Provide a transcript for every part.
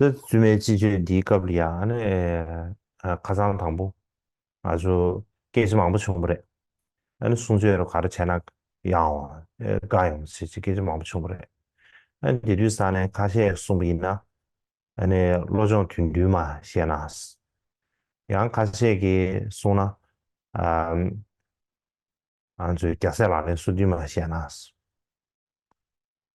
ད་བཙུན་མའི་སྤྱི་སྤྱོད་འདིའི་སྐབས་ལ་ཡང་ཁ་ཚང་དང་པོ་ང་ཚོ་སྐད་ཆ་མང་པོ་བྱུང་པ་རེད་ཨ་ནི་གསུང་ཆོས་རོ་ག་རེ་བྱས་ན་ཡང་བ་དགའ་ཡོང་ཆེ་ཆེ་སྐད་ཆ་མང་པོ་བྱུང་པ་རེད་ཨ་ནི་དེ་དུས་ས་ནས་ཁ་ཤས་གསུང་པ་ཡིན་ན་ཨ་ནི་བློ་སྦྱོང་དུས་མདུན་མ་བཤད་ན་ཡང་ཁ་ཤས་ཀྱི་གསུང་ན་ཨ་ང་ཚོའི་རྒྱ་སེ་ལ་ནས་སུ་དུས་མ་བཤད་ན་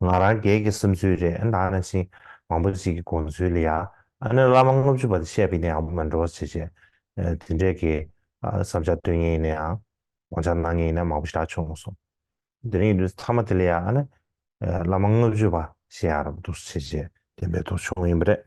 ང་རང་སྒེར་གྱི་བསམ་ཚུལ་རེད་ཨ་ན་ཨ་ན་ཞིག་མང་པོ་ཞིག་གི་དགོངས་ཚུལ་ལ་ཡ་ཨ་ན་བླ་མ་ལྔ་བཅུ་པ་དེ་བཤད་པ་ཡིན་ན་ཡང་མི་འགྲོ་བ་བྱེད་བྱེད་དེ་འདྲས་ཀྱི་བསམ་འཆར་སྟོན་ངེས་ཡིན་ན་ཡང་དགོངས་འཆར་གནང་ངེས་ཡིན་ན་མང་པོ་ཞིག་ད་བྱུང་སོང་དེ་རིང་གི་དུས་ཚོད་ཐ་མ་དེ་ལ་ཡ་ཨ་ན་བླ་མ་ལྔ་བཅུ་པ་བཤད་ཡག་རབ་འདུག་བྱེད་བྱེད་དེ་འདྲས་དོགས་བྱུང་ཡིན་པ་རེད།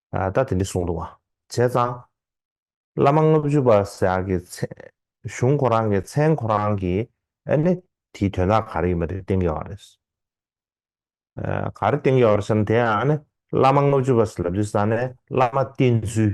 ད་དེ་འདྲ་གསུངས་འདུག་བྱས་ཙང། བླ་མ་ལྔ་བཅུ་པ་ཞག་གི་གཞུང་ཁོ་རང་གི་མཚན་ཁོ་རང་གིས་ཨེ་ནི་དེའི་དོན་དག་ག་རེ་ཡིན་པ་དེ་བསྟན་ཀྱི་ཡོད་རེད། ག་རེ་བསྟན་ཀྱི་ཡོད་རེད་ཟེར་ན་དེ་ཡང་ཨ་ནི་བླ་མ་ལྔ་བཅུ་པ་ཞེས་ལབ་རྒྱུ་ས་ནི་བླ་མ་བསྟེན་ཚུལ།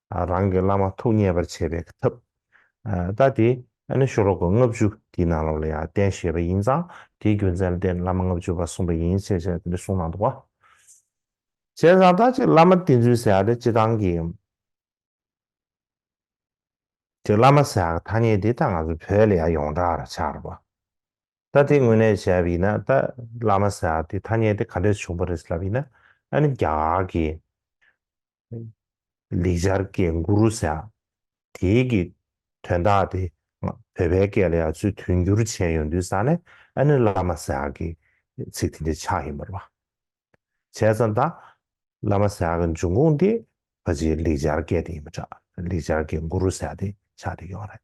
རང་གི་བླ་མ་ཐུགས་མཉེས་པར་བྱེད་པའི་ཐབས། ལྟ་སྟེ། ཨ་ནི་ཤོ་ལོ་ཀ་ལྔ་བཅུ་དེའི་ནང་ལོགས་ལ་ཡང་བསྟན་བཞེད་པ་ཡིན་ཙང་དེའི་རྒྱུ་མཚན་ལ་བརྟེན་བླ་མ་ལྔ་བཅུ་པ་གསུངས་པ་ཡིན་ཞེས་བྱས་ཏེ་གསུངས་གནང་འདུག་བ། གཞན་བཟང་རྟག་གཅིག་བླ་མ་བསྟེན་ཚུལ་ཟེར་བ་དེ་སྤྱི་བཏང་གི། དེ་བླ་མ་ཟེར་བ་ཐ་སྙད་དེ་ད་ང་ཚོ་བོད་ལ་ཡང་ཡོངས་གྲགས་ར་ཆགས་ར་བ། ལྟ་དེ་དངོས་གནས་བྱས་པ་ཡིན་ན་ད་བླ་མ་ཟེར་བ་དེ་ཐ་སྙད་དེ་ག་འདྲས་བྱུང་བ་རེད་ལབ་ཡིན་ན་ཨ་ནི་རྒྱ་གར་གྱི། ལེགས་སྦྱར་སྐད་མགུ་རུ་ཟ། དེའི་གི་དོན་དག་དེ་བོད་པའི་སྐད་ལ་ཡང་ཚུལ་མཐུན་འགྱུར་བྱས་ཡོང་དུས་ས་ལེ་ཨ་ནི་བླ་མ་ཟ་གི་ཚིག་དེ་འདྲའི་ཆགས་ཡིན་པར་བ། བྱས་ཙང་ད་བླ་མ་ཟ་གི་འབྱུང་ཁུངས་དེ་ཕ་ཇེའི་ལེགས་སྦྱར་སྐད་དེ་ཡིན་པ་འདྲ་ལེགས་སྦྱར་སྐད་མགུ་རུ་ཟ་དེ་ཆགས་དེ་ཡོང་རེད།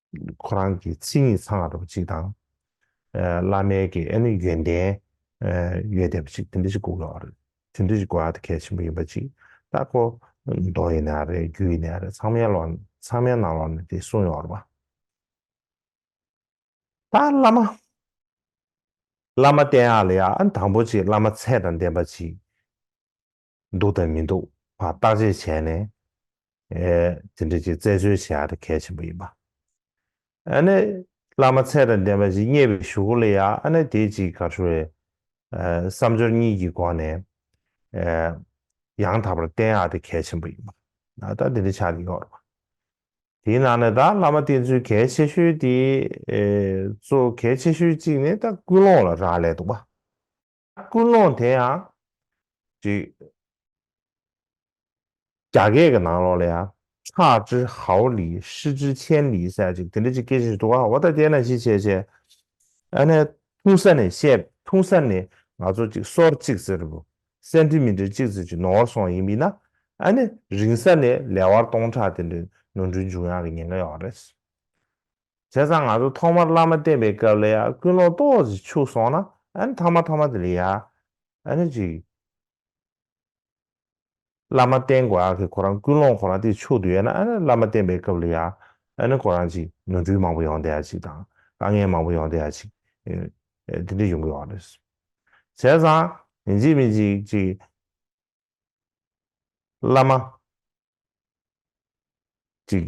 ཁོ་རང་གི་མཚན་ཉིད་ཚང་བ་ཅིག་དང། བླ་མའི་གི་ཨེ་ནི་ཡོན་ཏན་ཡོད་བསྡད་པ་ཅིག་དེ་འདྲ་ཅིག་དགོས་ཀྱི་ཡོད་རེད། དེ་འདྲ་ཅིག་དགོས་ཡ་གལ་ཆེན་པོ་ཡིན་པ་ཅིག་ད་ཁོ་མདོ་ཡིན་ཡང་རེད་རྒྱུད་ཡིན་ཡང་རེད་ཚང་མའི་ལོག་ཚང་མའི་ནང་ལོག་ནས་དེ་གསུངས་ཡོད་རེད་པ། ད་བླ་མ། བླ་མ་བསྟེན་ཡ་ལ་ཡ་ཨ་ནི་དང་པོ་ཅིག་བླ་མ་ཚད་དང་ལྡན་པ་ཅིག་འདུག་དང་མི་འདུག་བར་བརྟག་དཔྱད་བྱས་ནས་དེ་འདྲ་ཅིག་བཙལ་འཚོལ་བྱེད་ཨ་རི་གལ་ཆེན་པོ་ཡིན་པ། ཨ་ནི་བླ་མ་ཚད་དང་ལྡན་པ་ཞིག་རྙེད་པའི་ཞུ་སྒོ་ལ་ཡ་ཨ་ནི་དེ་ཅིག་ག་ཧྲུལ་བའི་བསམ་སྦྱོར་གཉིས་ཀྱི་སྒོ་ནས་ཡང་དག་པར་བསྟེན་ཨ་དེ་གལ་ཆེན་པོ་ཡིན་པ། ད་ལྟ་དེ་འདྲ་ཆགས་ཀྱི་ཡོད་རེད་པ། དེའི་ནང་ནས་ད་བླ་མ་བསྟེན་ཚུལ་གལ་ཆེ་ཤོས་དེ་གཙོ་གལ་ཆེ་ཤོས་གཅིག་ནི་ད་ཀུན་སློང་ལ་རག་ལས་འདུག་པ། ཀུན་སློང་དེ་ཡང། ཅིག། རྒྱ་སྐད་ཀྱི་ནང་ལོགས་ལ་ཡང། ཕྱག་ཅི་ཧའོ་ལི་ཧྲི་ཅི་ཆན་ལི་སེ་ཅིག་དེ་འདྲ་ཅིག་སྐད་ཅིག་འདུག་ཨ་འོ་ད་དེ་ན་ཅི་བྱེད་བྱེད། ཨ་ནས། ཐུང་ས་ནས་བཤད་ཐུང་ས་ནས་ང་ཚོ་ཅིག་སོར་ཅིག་ཟེར་རོ། སེ་འདྲི་མི་འདྲི་ཅིག་ཟེར་ཅིག་ནོར་སོང་ཡིན་མིན་ན། ཨ་ནས་རིང་ས་ནས་ལེ་བར་སྟོང་ཕྲག་དེ་འདྲའི་ནོར་འཁྲུལ་འབྱུང་ཡག་གི་ཉེན་ཁ་ཡོད་རེད། བྱས་ཙང་ང་ཚོ་ཐོག་མར་བླ་མ་བསྟེན་པའི་སྐབས་ལ་ཡང་ཀུན་སློང་ཏོག་ཅིག་འཆུགས་སོང་ན་ཨ་ནི་ཐ་མ་ཐ་མ་དེ་ལས་ཡག་ཨ་ནི་ཅིག། བླ་མ་བསྟེན་དགོས་ཨ་ཁེ་ཁོ་རང་ཀུན་སློང་ཁོ་རང་དེ་འཆུགས་དུ་ཡོད་ན་ཨ་ནི་བླ་མ་བསྟེན་པའི་སྐབས་ལ་ཡག་ཨ་ནི་ཁོ་རང་ཅིག་ནོར་འཁྲུལ་མང་པོ་ཡོང་བསྡད་ཨ་ཅིག་དང་དཀའ་ངལ་མང་པོ་ཡོང་བསྡད་ཨ་ཅིག་དེ་འདྲ་ཡོང་གི་ཡོད་རེད། བྱས་ཙང་མི་འཇིགས་མི་འཇིགས་ཅིག། བླ་མ་ཅིག།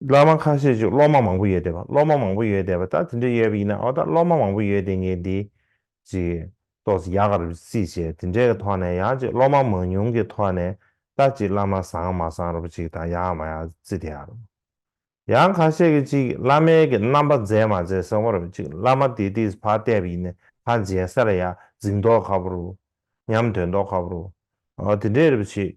སློབ་མ་ཁ་ཤས་ཀྱིས་སློབ་མ་མང་པོ་ཡོད་བསྡད་པ་སློབ་མ་མང་པོ་ཡོད་བསྡད་པ་ད་དེ་འདྲ་ཡོད་པ་ཡིན་ན་ཨོ་ད་སློབ་མ་མང་པོ་ཡོད་བསྡད་ངེས་འདི་ཅིག་ཏོག་ཙི་ཡག་ག་རུ་སྲིད་ཅེས་དེ་འདྲའི་ཐོག་ནས་ཡང་ཅིག་སློབ་མ་མང་ཉུང་གི་ཐོག་ནས་ད་ཅིག་བླ་མ་བཟང་མ་བཟང་རུ་ཅིག་དང་ཡག་མ་ཡག་ཙི་དེ་ཡག་རུ། ཡང་ཁ་ཤས་ཀྱིས་ཅིག་བླ་མའི་གི་རྣམ་པ་མཛེས་མ་མཛེས་བཟང་བ་རུ་ཅིག་བླ་མ་དེ་དེས་ཕ་བསྡད་པ་ཡིན་ན་ཕ་མཇལ་ས་ལ་ཡག་གཟིགས་མདོག་ག་བུ་རུ། ཉམས་དོད་མདོག་ག་བུ་རུ། ཨོ་དེ་འདྲས་རུ་ཅིག་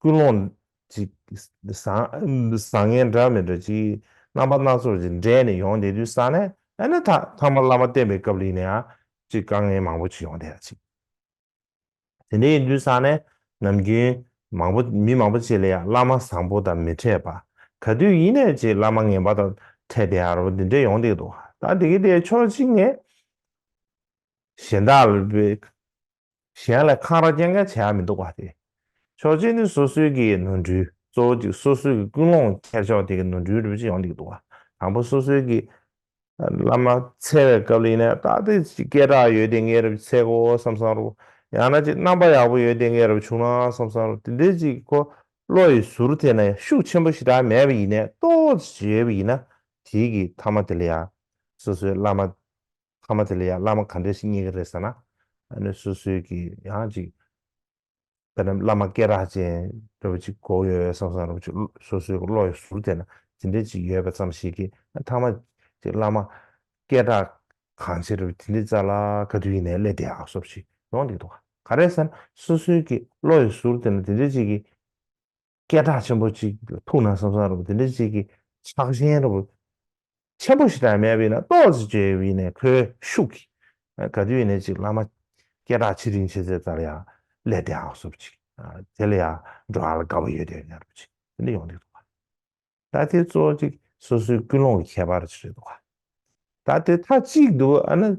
ཀུན་སློང། བཟང་ངན་འདྲ་མི་འདྲ་གཅིག། རྣམ་པ་སྣ་ཚོགས་ཀྱིས་འདྲེས་ནས་ཡོང་དེ་དུས་ས་ནས་ཨེ་ན་ཐ་ཐང་མ་བླ་མ་བསྟེན་པའི་སྐབས་རིང་ནས་ཨ་ཅིག་དཀའ་ངལ་མང་པོ་ཅིག་ཡོང་དེ་ཨ་ཅིག། དེ་འདྲ་ཡིན་དུས་ས་ནས་ནམ་རྒྱུན་མང་པོ་མི་མང་པོ་བྱེད་ལ་ཡང་བླ་མ་བཟང་པོ་དང་མི་འཕྲད་པ། ག་དུས་ཡིན་ནས་ཅིག་བླ་མ་ངན་པ་དང་འཕྲད་དེ་ཨ་རོ་འདི་འདྲས་ཡོང་དེ་འདུག་ད་དེ་གི་དེ་ཕྱོགས་གཅིག་ནས། གཞན་དག་ལ་བལྟས། གཞན་ལ་འཁང་ར་སྐྱེལ་མཁན་བྱས་ཡ་མི་འདུག་པ་སྟེ། ཆོག་མཆན་ནི་སོ་སོའི་གི་ནོར་འཁྲུལ་གཙོ་བོ་ཅིག་སོ་སོའི་གི་ཀུན་སློང་འཁྱེར་ཆོག་དེ་གི་ནོར་འཁྲུལ་རུལ་ཅི་ཡོང་འདིག་འདུག་དང་པོ་སོ་སོའི་གི། བླ་མ་འཚལ་བའི་སྐབས་ལ་ཡིན་ན་རྟགས་དེ་ཅིག་སྐད་གྲགས་ཡོད་དེ་ངའི་རབ་ཚེ་གོ་བསམ་བསམ་རུག་ཡང་ན་ཅིག་རྣམ་པ་ཡག་པོ་ཡོད་དེ་ངའི་རབ་བྱུང་ན་བསམ་བསམ་རུག་དེ་འདྲའི་ཅིག་གོ་བློ་ཡི་ཟུར་དེ་ན་ཤུགས་ཆེན་པོ་ཞིག་དྲག་མེད་པ་ཡིན་ནས་རྟོགས་ཅིག་ཅིག་ཡོད་པ་ཡིན་ན་དེའི་གི་ཐ་མ་དེ་ལ་ཡང་སོ་སོའི་བླ་མ་ཁ་མ་དེ་ལ་ཡང་བླ་མ་ག་འདྲས་ཤིག་རྙེད་ཀྱི་རེད་ཟེར་ན། ཨ་ནི་སོ་སོའི་གི་ཡང་ཅིག་བལྟ་ན་བླ་མ་སྐད་རགས་ཅན་རེ་བ་ཅིག་གོ་ཡོད་ཡོད་བསམ་བསམ་རེ་བ་ཅིག་སོ་སོའི་གི་བློ་ཡི་ཟུར་དེ་ན་དེ་འདྲས་ཅིག་ཡོད་པ་ཙམ་ཞིག་གི་མཐའ་མ་ཅིག་བླ་མ་སྐད་གྲགས་གང་ཆེ་རེ་བ་དེ་འདྲས་རྩ་ལ་ག་དུས་ཡིན་ནའི་སླད་དེ་ཡག་སོབ་ཅིག་ཡོང་འདུག་ག་རེད་ཟེར་ན་སོ་སོའི་གི་བློ་ཡི་ཟུར་དེ་ན་དེ་འདྲས་ཅིག་གི། སྐད་གྲགས་ཆེན་པོ་གཅིག་ཐུགས་ན་བསམ་བསམ་རུང་དེ་འདྲའི་གཅིག་གིས་ཕྱག་གཞན་རུང་ཆེན་པོ་ཞིག་དང་མེད་པས་ན་རྟོགས་ཟེར་བཅོས་བས་ནས་ཁོའི་ཤུགས་ཀྱིས་ག་དུས་ནས་ཅིག་བླ་མ་སྐད་གྲགས་ཆེ་རིང་ཆེ་ཚད་ལྟར་ཡང་ལས་དེ་ཨག་སོབ་ཅིག་དེ་ལ་ཡང་འགྲོ་ཨ་ལ་དགའ་བོ་ཡོད་དོན་ཉར་བུ་ཅིག་དེ་འདྲ་ཡོང་དུས་འདུག་ག་ད་དེ་གཙོ་ཅིག་སོ་སོའི་ཀུན་སློང་གི་ཁྱད་པར་ཅིག་རེད་འདུག་ག་ད་དེ་ཐ་གཅིག་འདུག་ཨ་ན་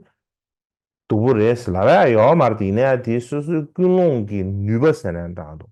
དུ་བུ་རེད་ཟེར་ལ་བས་ཡོག་མར་དེ་ཡིན་ན་དེ་སོ་སོའི་ཀུན་སློང་གི་ནུས་པ་ཟེར་ན་འདྲ་འདུག་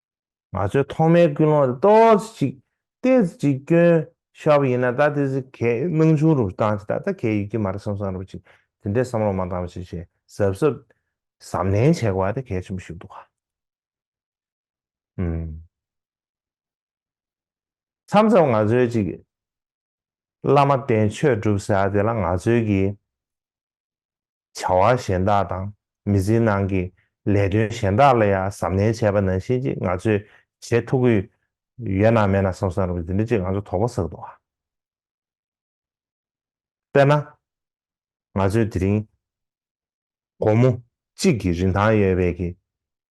ང་ཚོའི་ཐོག་མའི་ཀུན་སློང་དེ་ཏོག་ཙེ་ཅིག་ཏེ་ཙི་ཅིག་སྐྱོན་ཤོབ་ཡིན་ན་ད་དེ་ཙི་གས་སྣང་ཆུང་རུ་བཏང་ཅིག་ད་ལྟ་གས་ཡོད་ཀྱི་མ་རེད་བསམ་བསམ་རུ་ཅིག་དེ་འདྲའི་བསམ་བློ་མ་བཏང་བ་ཅིག་ཅེས་གཟབ་གཟབ་གཟབ་ནན་བྱས་གོ་བ་དེ་གལ་ཆེན་པོ་ཞིག་འདུག་ག་ཨུམ། མཚམས་མཚམས་ང་ཚོའི་ཅིག་བླ་མ་བསྟེན་ཆོས་སྒྲུབ་ས་དེ་ལ་ང་ཚོའི་གི། བྱ་བ་གཞན་དག་དང་མི་ཚེའི་ནང་གི་ལས་དོན་གཞན་དག་ལ་ཡང་གཟབ་ནན་བྱས་པ་ནང་བཞིན་ཅིག་ང་ཚོས་བྱེད་ཐུབ་ཀྱི་ཡོད་ན་མེད་ན་བསམ་བསམ་རེད་འདི་འདྲ་ཅིག་ང་ཚོ་དོགས་པ་ཟགས་འདུག་དཔེར་ན། ང་ཚོས་དེ་རིང་དགོང་མོ་གཅིག་གི་རིན་ཐང་ཡོད་པའི་གི་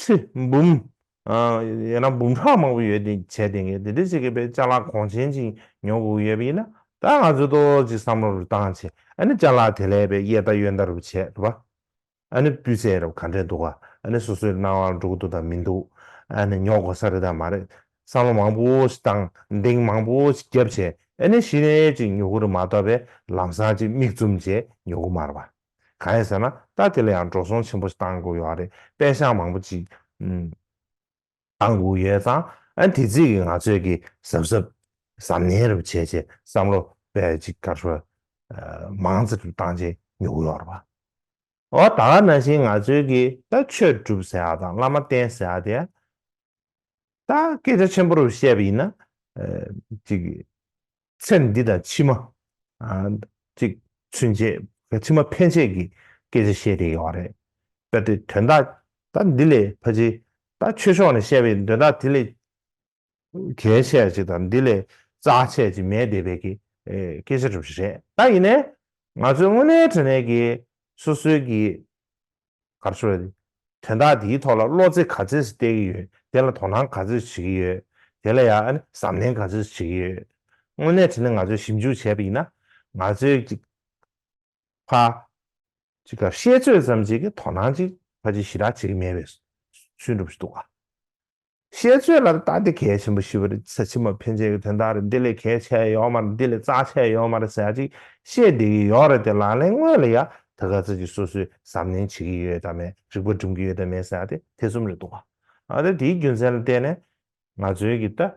ཁྲི། འབུམ། ཡོད་ན་འབུམ་ཕྲག་མང་པོ་ཡོད་དེ་བྱས་དེང་གི་དེ་འདྲས་བྱེད་དགོས་པས་ལྕགས་ལག་གོང་ཆེན་ཅིག་ཉོ་དགོས་ཡོད་པ་ཡིན་ན་ད་ང་ཚོས་ཏོག་ཏོག་ཅིག་བསམ་བློ་རུ་བཏང་བྱས་ཨ་ནི་ལྕགས་ལག་དེ་ལས་པའི་གཡས་མཐའ་གཡོན་མཐའ་རུ་བྱས་ཐུབ་པ་ཨ་ནི་སྤུས་ཚད་རབ་ག་འདྲས་འདུག་ཨ་ནི་སོ་སོའི་སྣང་བ་ལ་འགྲོ་གི་འདུག་དང་མི་འདུག་ཨ་ནི་ཉོ་དགོས་ས་རེད་དང་མ་རེད་བསམ་བློ་མང་པོ་ཞིག་བཏང་འདེང་མང་པོ་ཞིག་བརྒྱབ་བྱས་ཨ་ནི་ཞིག་ནས་ཅིག་ཉོ་གི་རུ་མ་གཏོགས་པས་ལམ་སང་ཅིག་མིག་བཙུམ་བྱས་ཉོ་གི་མ་རུ་བ། གང་ཡིན་ཟེར་ན་ད་དེ་ལ་ཡང་འགྲོ་སོང་ཆེན་པོ་ཞིག་གཏང་དགོས་ཡོད་རེད་པད་ཤང་མང་པོ་ཅིག་གཏང་དགོས་ཡོད་ཙང་ཨ་དེ་རྩིས་ཀྱི་ང་ཚོད་ཀྱི་གཟབ་གཟབ་གཟབ་ནན་རེ་བ་བྱས་བྱས་བསམ་བློ་བས་ཅིག་ཀར་ཧྲོལ་མང་ཙེ་དུ་གཏང་བྱས་ཉོག་ཡོད་རེད་བ། འོ་ད་ག་ན་བཞིན་ང་ཚོད་ཀྱི་ད་ཆོས་སྒྲུབ་ཟེར་ཡག་དང་བླ་མ་བསྟེན་ཟེར་ཡག་དེ་ད་སྐད་ཆ་ཆེན་པོ་རེ་བཤད་པ་ཡིན་ན་ཅིག་ཚེ་འདི་དང་ཕྱི་མ། ཅིག། ཚུན་ཆད། ཕྱི་མ་ཕན་ཆད་ཀྱི་སྐད་ཆ་བཤད་དེ་ཡོང་བ་རེད། དཔེར་དེ་དོན་དག་ད་འདི་ལས་ཕ་ཆེ། ད་ཆོས་ཕྱོགས་ནས་བཤད་པའི་དོན་དག་དེ་ལས། གལ་ཆེ་ཅིག་དང་འདི་ལས་རྩ་ཆེ་ཅིག་མེད་བསྡད་པའི་སྐད་ཆ་གྲུབ་བཞིན་རེད། ད་ཡིན་ནའི། ང་ཚོའི་དངོས་གནས་དྲན་ནས་ཀྱི་སོ་སོའི་ཀྱི། གར་སོ། དོན་དག་འདིའི་ཐོག་ལ་བློ་རྩེ་ག་ཚོད་ཟིག་གཏད་ཀྱི་ཡོད་དེ་ལ་དོ་སྣང་ག་ཚོད་བྱེད་ཀྱི་ཡོད་དེ་ལ་ཡང་ཨ་ནི་གཟབ་ནན་ག་ཚོད་བྱེད་ཀྱི་ཡོད། དངོས་གནས་དེ་ནི་ང་ཚོས་ཞིབ་འཇུག་བྱས་པ་ཡིན་ན། ང་ཚོའི་ཅིག། ཕ། ཅིག་ག་ཤེས་ཚོད་ཙམ་བྱེད་ཀྱི་དོ་སྣང་ཅིག་ཕ་ཅིག་ཞི་དྲག་བྱེད་ཀྱི་མེད་པའི་སུན་གྲུབ་ཞིག་འདུག་ཨ། བཤད་ཚོད་ལ་ལྟ་དེ་གལ་ཆེན་པོ་ཞིག་རེད་ཚེ་ཕྱི་མ་ཕན་ཆད་ཀྱི་དོན་དག་རེད་འདི་ལས་གལ་ཆེ་ཡོད་མ་རེད་འདི་ལས་རྩ་ཆེ་ཡོད་མ་རེད་ཟེར་ཅིག་བཤད་བསྡད་ཀྱི་ཡོད་རེད་དེ་ལག་ལེན་དངོས་ལ་ཡང་དེ་ག་ཚོད་ཀྱིས་སོ་སོས་གཟབ་ནན་བྱེད་ཀྱི་ཡོད་དམ་མེད་རིག་པ་སྒྲུབ་ཀྱི་ཡོད་དམ་མེད་ཟེར་དེ་ཐེ་ཚོམ་རེད་འདུག་ག་ཨ་དེ་དེའི་རྒྱུ་མཚན་ལ་བལྟས་ནས་ང་ཚོའི་གི་ད་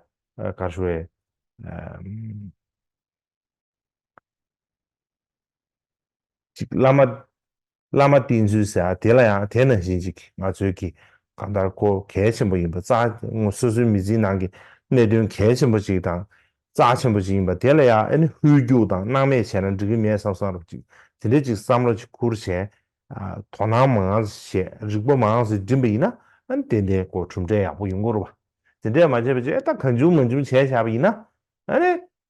གར་ཞུ་བའི་ཅིག་བླ་མ། བླ་མ་བསྟེན་ཚུལ་ཟེར་ཡ་དེ་ལ་ཡང་དེ་ནང་བཞིན་ཅིག་ང་ཚོའི་གི་ག་མཐར་སྐོར་གལ་ཆེན་པོ་ཡིན་པ་རྩ་ངོ་སོ་སོའི་མི་ཚེའི་ནང་གི་གནད་དོན་གལ་ཆེན་པོ་ཅིག་དང་རྩ་ཆེན་པོ་ཅིག་ཡིན་པ་དེ་ལ་ཡང་ཨེ་ནི་ཧུའི་རྒྱུག་དང་སྣང་མེད་བྱས་ན་འགྲིག་གི་མེད་བསམ་བསམ་རུབ་ཅིག་དེ་འདྲའི་ཅིག་བསམ་བློ་ཅིག་ཁུར་བྱས་དོ་སྣང་མང་བྱས་རིག་པ་མང་ཟིག་འགྲིམ་པ་ཡིན་ན་ཨེ་ནི་ཏན་ཏན་སྐོར་གྲུབ་འབྲས་ཡག་པོ་ཡོང་གི་རུབ་བ་དེ་འདྲས་མ་བྱས་པ་ཅིག་ཨེ་ད་གང་བྱུང་མ་བྱུང་བྱས་བྱས་པ་ཡིན་ན་ཨེ་ནི་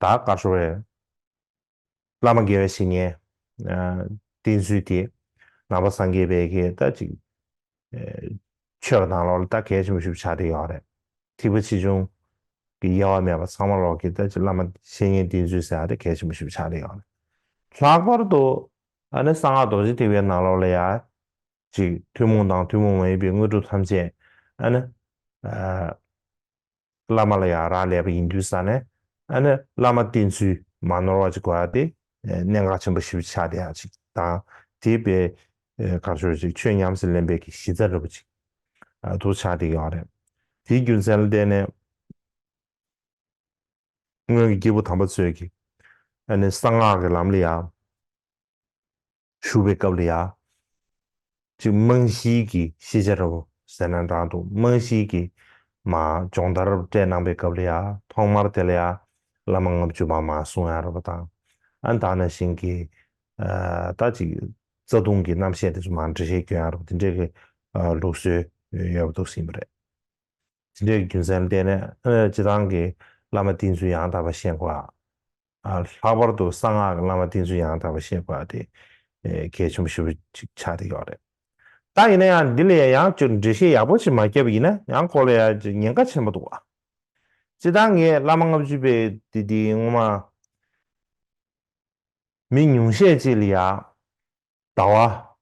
དག་དཀར་ཤོར་བས། བླ་མ་དགེ་བའི་བཤེས་གཉེན། བསྟེན་ཚུལ་དེ། ནང་པ་སངས་རྒྱས་པས་ཁྱེད་ལྟ་ཅིག། ཆོས་ཀྱི་དང་ལོག་ལ་ལྟ་གལ་ཆེན་པོ་ཞུ་བ་ཆགས་བྲལ་ཡོད་རེད། ཐིགས་པ་ཆེ་ཆུང། གི་དབྱེ་བ་མེད་པར་ཚང་མ་ལོག་ཁྱེད་ལྟ་ཅིག་བླ་མ་བཤེས་གཉེན་བསྟེན་ཚུལ་ཟེར་བ་དེ་གལ་ཆེན་པོ་ཞུ་བ་ཆགས་བྲལ་ཡོད་རེད། ལྷག་པར་དུ། ཨ་ནི་གསང་སྔགས་རྡོ་རྗེ་ཐེག་པའི་ནང་ལོག་ལ་ཡང། ཅིག་ཐུན་མོང་དང་ཐུན་མོང་མ་ཡིན་པའི་དངོས་གྲུབ་ཐམས་ཅད། ཨ་ནི། བླ་མ་ལ་ཡང་རག་ལས་པ་ཡིན་དུས་ས་ནས་ཨ་ནི་བླ་མ་བསྟེན་ཚུལ་མ་ནོར་བ་ཅིག་དགོས་ཡ་དེ་གནད་འགག་ཆེན་པོ་ཞིབ་ཆ་ཆགས་བསྡད་ཡ་ཅིག་དང་དེའི་དཔེ་གར་ཤོར་ཅིག་ཆོས་ཉམས་སུ་ལེན་པའི་གི་གཞི་རྩ་རིལ་པོ་ཅིག་དུ་ཆགས་བསྡད་ཀྱི་ཡོད་རེད་དེའི་རྒྱུ་མཚན་ལ་བལྟས་ནས་སྔོན་གྱི་སྐྱེས་བུ་དམ་པ་ཚོས་གི་ཨ་ནི་གསང་སྔགས་ཀྱི་ལམ་ལ་ཡང། ཞུ་བའི་སྐབས་ལ་ཡང། ཅིག་རྨང་གཞིའི་གི་ཤེས་བྱ་རབ་ཟེར་ན་འདྲང་འདུག་རྨང་གཞིའི་གི། མ་སྦྱོང་བརྡར་རབ་སྤྲད་གནང་པའི་སྐབས་ལ་ཡང་ཐོག་མར་དེ་ལ་ཡང། བླ་མ་ལྔ་བཅུ་མ་མ་གསུང་ཡང་རབ་དང། ཨ་མདའ་ན་བཞིན་གི། ད་ཅིག་རྩ་ལྟུང་གི་རྣམ་བཤད་དེ་ཚོ་མ་འབྲི་ཤེས་རྒྱུ་ཡང་རབ་དེ་འདྲའི་གི། ལུགས་སྲོལ་ཡོད་པ་འདུག་ཟིན་པ་རེད། དེ་འདྲའི་གི་རྒྱུ་མཚན་བསྟན་ནས། སྤྱི་བཏང་གི་བླ་མ་བསྟེན་ཚུལ་ཡང་དག་པ་ཤེས་དགོས། ལྷག་པར་དུ་གསང་སྔགས་ཀྱི་བླ་མ་ཏིང་འཛིན་ཡང་དག་པར་གཤེགས་པ་དེ་གལ་ཆེན་པོ་ཞེ་པོ་ཅིག་ཆགས་བསྡད་ཡོད་རེད། ད་ཡིན་ན་ཡང་འདི་ལ་ཡང་ཡང་བསྐྱར་འགྲེལ་བཤད་ཡག་པོ་ཞིག་མ་བརྒྱབ་ཡིན་ན་ཡང་ཁོ་ལ་ཡང་ཉེན་ཁ་ཆེན་པོ་འདུག་བ། སྤྱི་བཏང་ངས་བླ་མ་ལྔ་བཅུ་པའི་དུས་དེའི་སྔོན་མ། མི་ཉུང་ཤས་ཅིག་ལ་ཡང། ཟླ་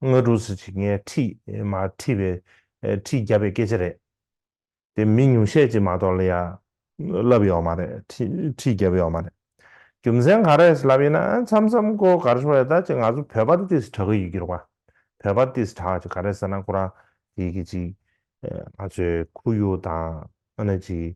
བ། སྔ་དྲོ་གཟི་བརྗིད་ངས་ཁྲིད་མ་ཁྲིད་པའི་ཁྲིད་བརྒྱབ་པའི་སྐད་ཆ་རེད། དེ་མི་ཉུང་ཤས་ཀྱིས་མ་གཏོགས་ལ་ཡང་ལབ་ཡོད་མ་རེད་ཁྲིད་བརྒྱབ་ཡོད་མ་རེད། རྒྱུ་མཚན་ག་རེད་ལབ་ཡིན་ན་མཚམས་མཚམས་ཀོ་གར་ཤོར་ཡོད་ད་ཅི་ང་ཚོ་བོད་པར་ཏིས་གྲག་གི་ཡོད་རྒྱུར་བ། བོད་པར་ཏིས་གྲག་ཅིག་ག་རེད་ཟེར་ན་ཁོ་རང་དེ་གི་ཅིག་ང་ཚོའི་ཁུ་ཡུག་དང་ཨ་ནི་ཅིག་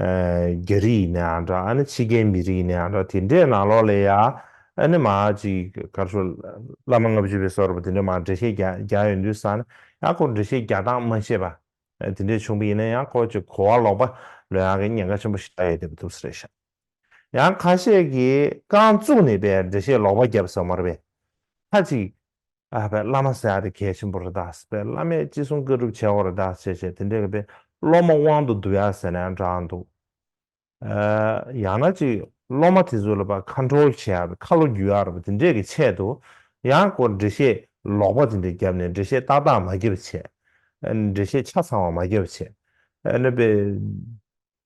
རྒྱ་རིགས་ཡིན་ནའང་འདྲ་ཨ་ནི་ཕྱི་རྒྱལ་མི་རིགས་ཡིན་ནའང་འདྲ་དེ་འདྲའི་ནང་ལོགས་ལས་ཡ་ཨ་ནི་མ་ཅིག་གར་སོ་བླ་མ་ལྔ་བཅུ་བའི་སོགས་རེ་བ་དེ་འདྲའི་མང་འགྲེལ་བཤད་རྒྱ་ཡོད་འདུག་ས་ནི་ཡང་སྐོར་འགྲེལ་བཤད་རྒྱ་སྟངས་མ་ཤེས་པ་དེ་འདྲའི་བྱུང་པ་ཡིན་ན་ཡང་སྐོར་གྱི་གོ་བ་ལོག་པ་ལོས་ཡང་གི་ཉེན་ཁ་ཆེན་པོ་ཞིག་ཆགས་ཡོད་བསྡད་པ་འདུག་ས་རེད་ཤག་ཡང་ཁ་ཤས་ཀྱིས་རྐང་བཙུགས་ནས་པའི་འགྲེལ་བཤད་ལོག་པ་བརྒྱབ་སོང་མ་རེད་པས་ཁ་ཅིག་ཨ་ཕའི་བླ་མ་སེ་ཨ་དེ་གལ་ཆེན་པོ་རེད་ད་ཟེར་བས་བླ་མས་ཅི་གསུང་བཀའ་སྒྲུབ་བྱའོ་རེད་ད་ཟེར་བྱས་དེ་འདྲས་གི་བས་སློབ་མ་དབང་དུ་བསྡུ་ཡ་ཟེར་ནའང་འདྲ་འདུག་ཨ། ཡང་ན་ཅིག་སློབ་མ་དེ་ཚོ་ལ་བ་ཁ་འཁྲོལ་བྱས་ཡ་བས་ཁ་ལོ་བསྒྱུར་ཡ་རེད་བ་དེ་འདྲས་གི་ཆེད་དུ་ཡང་སྐོར་འགྲེལ་བཤད་ལོག་པ་དེ་འདྲས་བརྒྱབ་ནས་འགྲེལ་བཤད་ཏག་ཏག་མ་བརྒྱབ་བྱས། འགྲེལ་བཤད་ཆ་ཚང་བ་མ་བརྒྱབ་བྱས། ཨ་ནི་བས།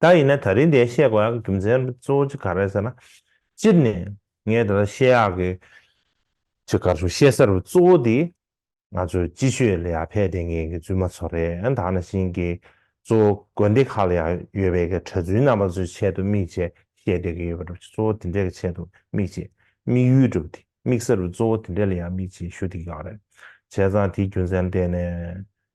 ད་ཡིན་ན་ད་རིང་འདའི་བཤད་དགོས་ཡག་གི་རྒྱུ་མཚན་གཙོ་བོ་གཅིག་ག་རེད་ཟེར་ན། སྤྱིར་ནས་ངས་ད་ལྟ་བཤད་ཡག་གི་གཅིག་ག་ཚོད་བཤད་ས་རུ་གཙོ་བོ་དེ་ང་ཚོའི་སྤྱི་ཆོས་ལ་ཡར་ཕེབས་ལྟས་མཁན་གི་བཙུན་མ་ཚོ་རེད་ད་ནང་བཞིན་གྱི་གཙོ་བོ་དགོན་སྡེ་ཁག་ལ་ཡང་ཡོད་པའི་གི་གྲྭ་བཙུན་རྣམ་པ་ཚོའི་ཆེད་དུ་དམིགས་བྱས་བཤད་བསྡད་གི་ཡོད་པ་རེད་གཙོ་བོ་དེ་འདྲའི་གི་ཆེད་དུ་དམིགས་བྱས་དམིགས་ཡུལ་འགྲུབ་དེ་དམིགས་ས་རུ་གཙོ་བོ་དེ་འདྲའི་ལ་ཡར་དམིགས་བྱས་ཞུ་དེ་གི་ཡག་རེད་བྱས་ཙང་དེའི་རྒྱུ་མཚན་ལྟས་ནས་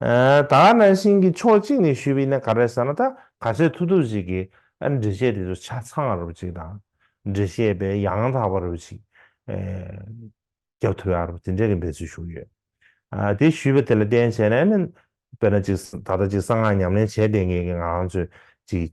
ད་ང་ནང་བཞིན་གྱི་ཕྱོགས་གཅིག་ནས་ཞུས་པའི་ནི་ག་རེ་ཟེར་ན་ད་ག་ཚོད་ཐུག་ཐུག་ཅིག་གིས་ཨ་འབྲི་བཤད་དེ་ཚོ་ཆ་ཚང་རུབ་ཅིག་དང། འབྲི་བཤད་པས་ཡང་དག་པ་རུབ་ཅིག། རྒྱབ་ཐོལ་ཡ་རུབ་དེ་འདྲའི་གི་འབད་ཚུལ་ཞུ་ཡོད། དེ་ཞུས་པ་དེ་ལ་བརྟེན་བྱས་ནས་ནི་དཔེར་ན་ཅིག་ད་ལྟ་ཅིག་གསང་སྔགས་ཉམས་ལེན་བྱས་བསྡད་མཁན་གྱི་ང་རང་ཚོས་ཅིག།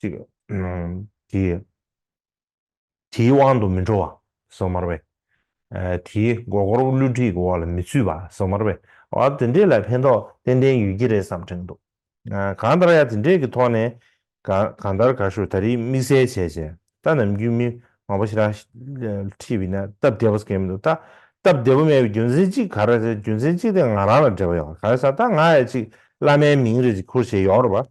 ཅིག། དེའི་དབང་དུ་མི་འགྲོ་བ། སོ་མར་བས། དེའི་མགོ་སྐོར་བུ་བསླུ་བྲིད་ཀྱི་འོག་ལ་མི་ཚུད་པ། སོ་མར་བས། ཨ། དེ་འདྲས་ལ་ཕན་ཐོགས་ཏན་ཏན་ཡོད་ཀྱི་རེད་བསམ་དྲན་འདུག། གང་ལྟར་ཡང་དེ་འདྲས་ཀྱི་ཐོག་ནས། གང་ལྟར་ག་ཞུ་ད་རིས་དམིགས་བསལ་བྱས་བྱས། ད་ནམ་རྒྱུན་མི་མང་པོ་ཞིག་ལ། ཁྲིད་བས་ན་སྟབས་བདེ་པོ་ཟེར་གྱི་མི་འདུག་ད། སྟབས་བདེ་པོ་མེད་པའི་རྒྱུ་མཚན་གཅིག་ག་རེ་ཟེར་རྒྱུ་མཚན་གཅིག་དེ་ང་རང་ལ་འབྲེལ་བ་ཡོད་ག་རེ་ཟ་ད་ང་ཡང་ཅིག་བླ་མའི་མིང་རེ་ཅིག་ཁུར་བྱས་ཡོང་རོགས་པ།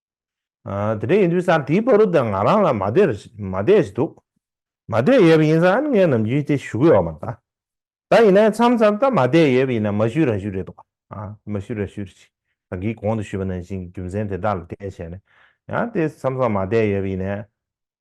དེ་འདྲ་ཡིན་དུས་སར་དེའི་བ་རུ་དང་ང་རང་ལ་མ་བསྡད་མ་བསྡད་ཅི་འདུག། མ་བསྡད་ཡོད་པ་ཡིན་ས་ཨ་ནི་ངའི་ནམ་རྒྱུན་དེ་ཞུ་གི་ཡོད་མ་རེད་ད། ད་ཡིན་ན་མཚམས་མཚམས་ད་མ་བསྡད་ཡོད་པ་ཡིན་ན་མ་ཞུས་རང་ཞུས་རེད་འདུག་ཨ་མ་ཞུས་རང་ཞུས་ཅིག་རང་གིས་གོང་དུ་ཞུས་པ་ནང་བཞིན་གྱི་རྒྱུ་མཚན་དེ་དག་ལ་བལྟས་བྱས་ནས་ཡང་དེ་མཚམས་མཚམས་མ་བསྡད་ཡོད་པ་ཡིན་ན།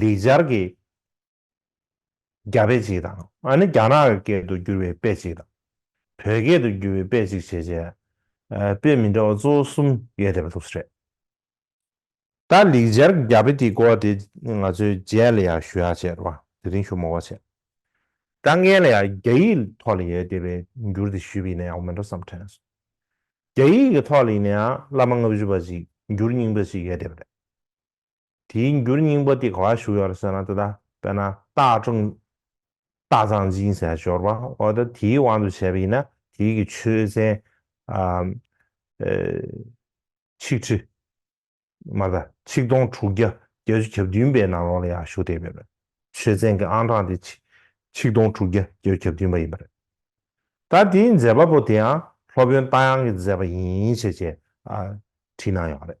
ལེགས་སྦྱར་གྱི་རྒྱ་དཔེ་ཅིག་དང། ཨ་ནི་རྒྱ་ནག་གི་སྐད་དུ་བསྒྱུར་བའི་དཔེ་ཅིག་དང། བོད་སྐད་དུ་བསྒྱུར་བའི་དཔེ་ཅིག་བྱས་རྗེས། དཔེ་མི་འདྲ་བ་གཙོ་བོ་གསུམ་ཡོད་བསྡད་པ་འདུག་རེད། ད་ལེགས་སྦྱར་གྱི་རྒྱ་དཔེ་དེའི་གོ་བ་དེ་ང་ཚོས་རྗེས་ལ་ཡང་ཞུ་ཡག་བྱས་རོགས། དེ་རིང་ཞུ་མོག་བ་བྱས། དཀའ་ངལ་ལ་ཡང་རྒྱ་ཡིག་ཐོག་ལ་ཡོད་བསྡད་པའི་འགྱུར་དེ་ཞུས་པ་ཡིན་ན་ཡག་པོ་མིན་འགྲོ་བསམ་དྲན་སོང། རྒྱ་ཡིག་གི་ཐོག་ལ་ཡིན་ན་ཡང་བླ་མ་ལྔ་བཞི་པ་ཅིག་འགྱུར་རྙིང་པ་ཅིག་ཡོད་བསྡད་པ་རེད། དེའི་འགྱུར་སྙིང་པོ་དེ་གང་ལ་ཞུགས་ཡོད་ཟེར་ན་དེ་ལྟ་དཔེར་ན་སྟག་ཀྲུང། སྟག་ཚང་སྦྱིན་ཟེར་བ་ཞོར་བ་འོ་ན་དེའི་དབང་དུ་བྱས་པ་ཡིན་ན་དེའི་གི་ཆོས་ཚན། ཆིག་ཁྲི། མ་གདའ་ཆིག་སྟོང་དྲུག་བརྒྱ་བརྒྱད་ཅུ་གྱ་བདུན་པའི་ནང་ལོགས་ལ་ཡང་ཞུགས་བསྡད་ཡོད་པ་རེད། ཆོས་ཚན་གྱི་ཨང་གྲངས་དེ་ཆིག་ཆིག་སྟོང་དྲུག་བརྒྱ་བརྒྱད་ཅུ་གྱ་བདུན་པ་ཡིན་པ་རེད། ད་དེའི་མཛད་པ་པོ་དེའང་སློབ་དཔོན་རྟ་དབྱངས་ཀྱིས་མཛད་པ་ཡིན་ཞེས་བྲིས་གནང་ཡོད་པ་རེད།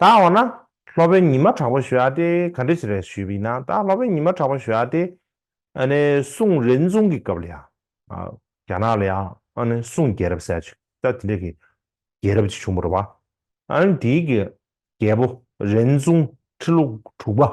ད་འོ་ན། སློབ་དཔོན་ཉི་མ་གྲགས་པ་ཞུ་ཨ་ཏེ་ག་འདྲི་ཞིག་རེད་ཞུས་པས་ན་ད་སློབ་དཔོན་ཉི་མ་གྲགས་པ་ཞུ་ཨ་ཏེ། ཨ་ནི་སུང་རེན་ཙུང་གི་སྐབས་ལ་ཡང། རྒྱ་ནག་ལ་ཡང་ཨ་ནི་སུང་རྒྱལ་རབས་ཟེར་ཅིག་ད་དེ་འདྲ་གི་རྒྱལ་རབས་ཅིག་བྱུང་པར་བ། ཨ་ནི་དེའི་གི་རྒྱལ་པོ་རེན་ཙུང་ཁྲི་ལོ་དྲུག་པ།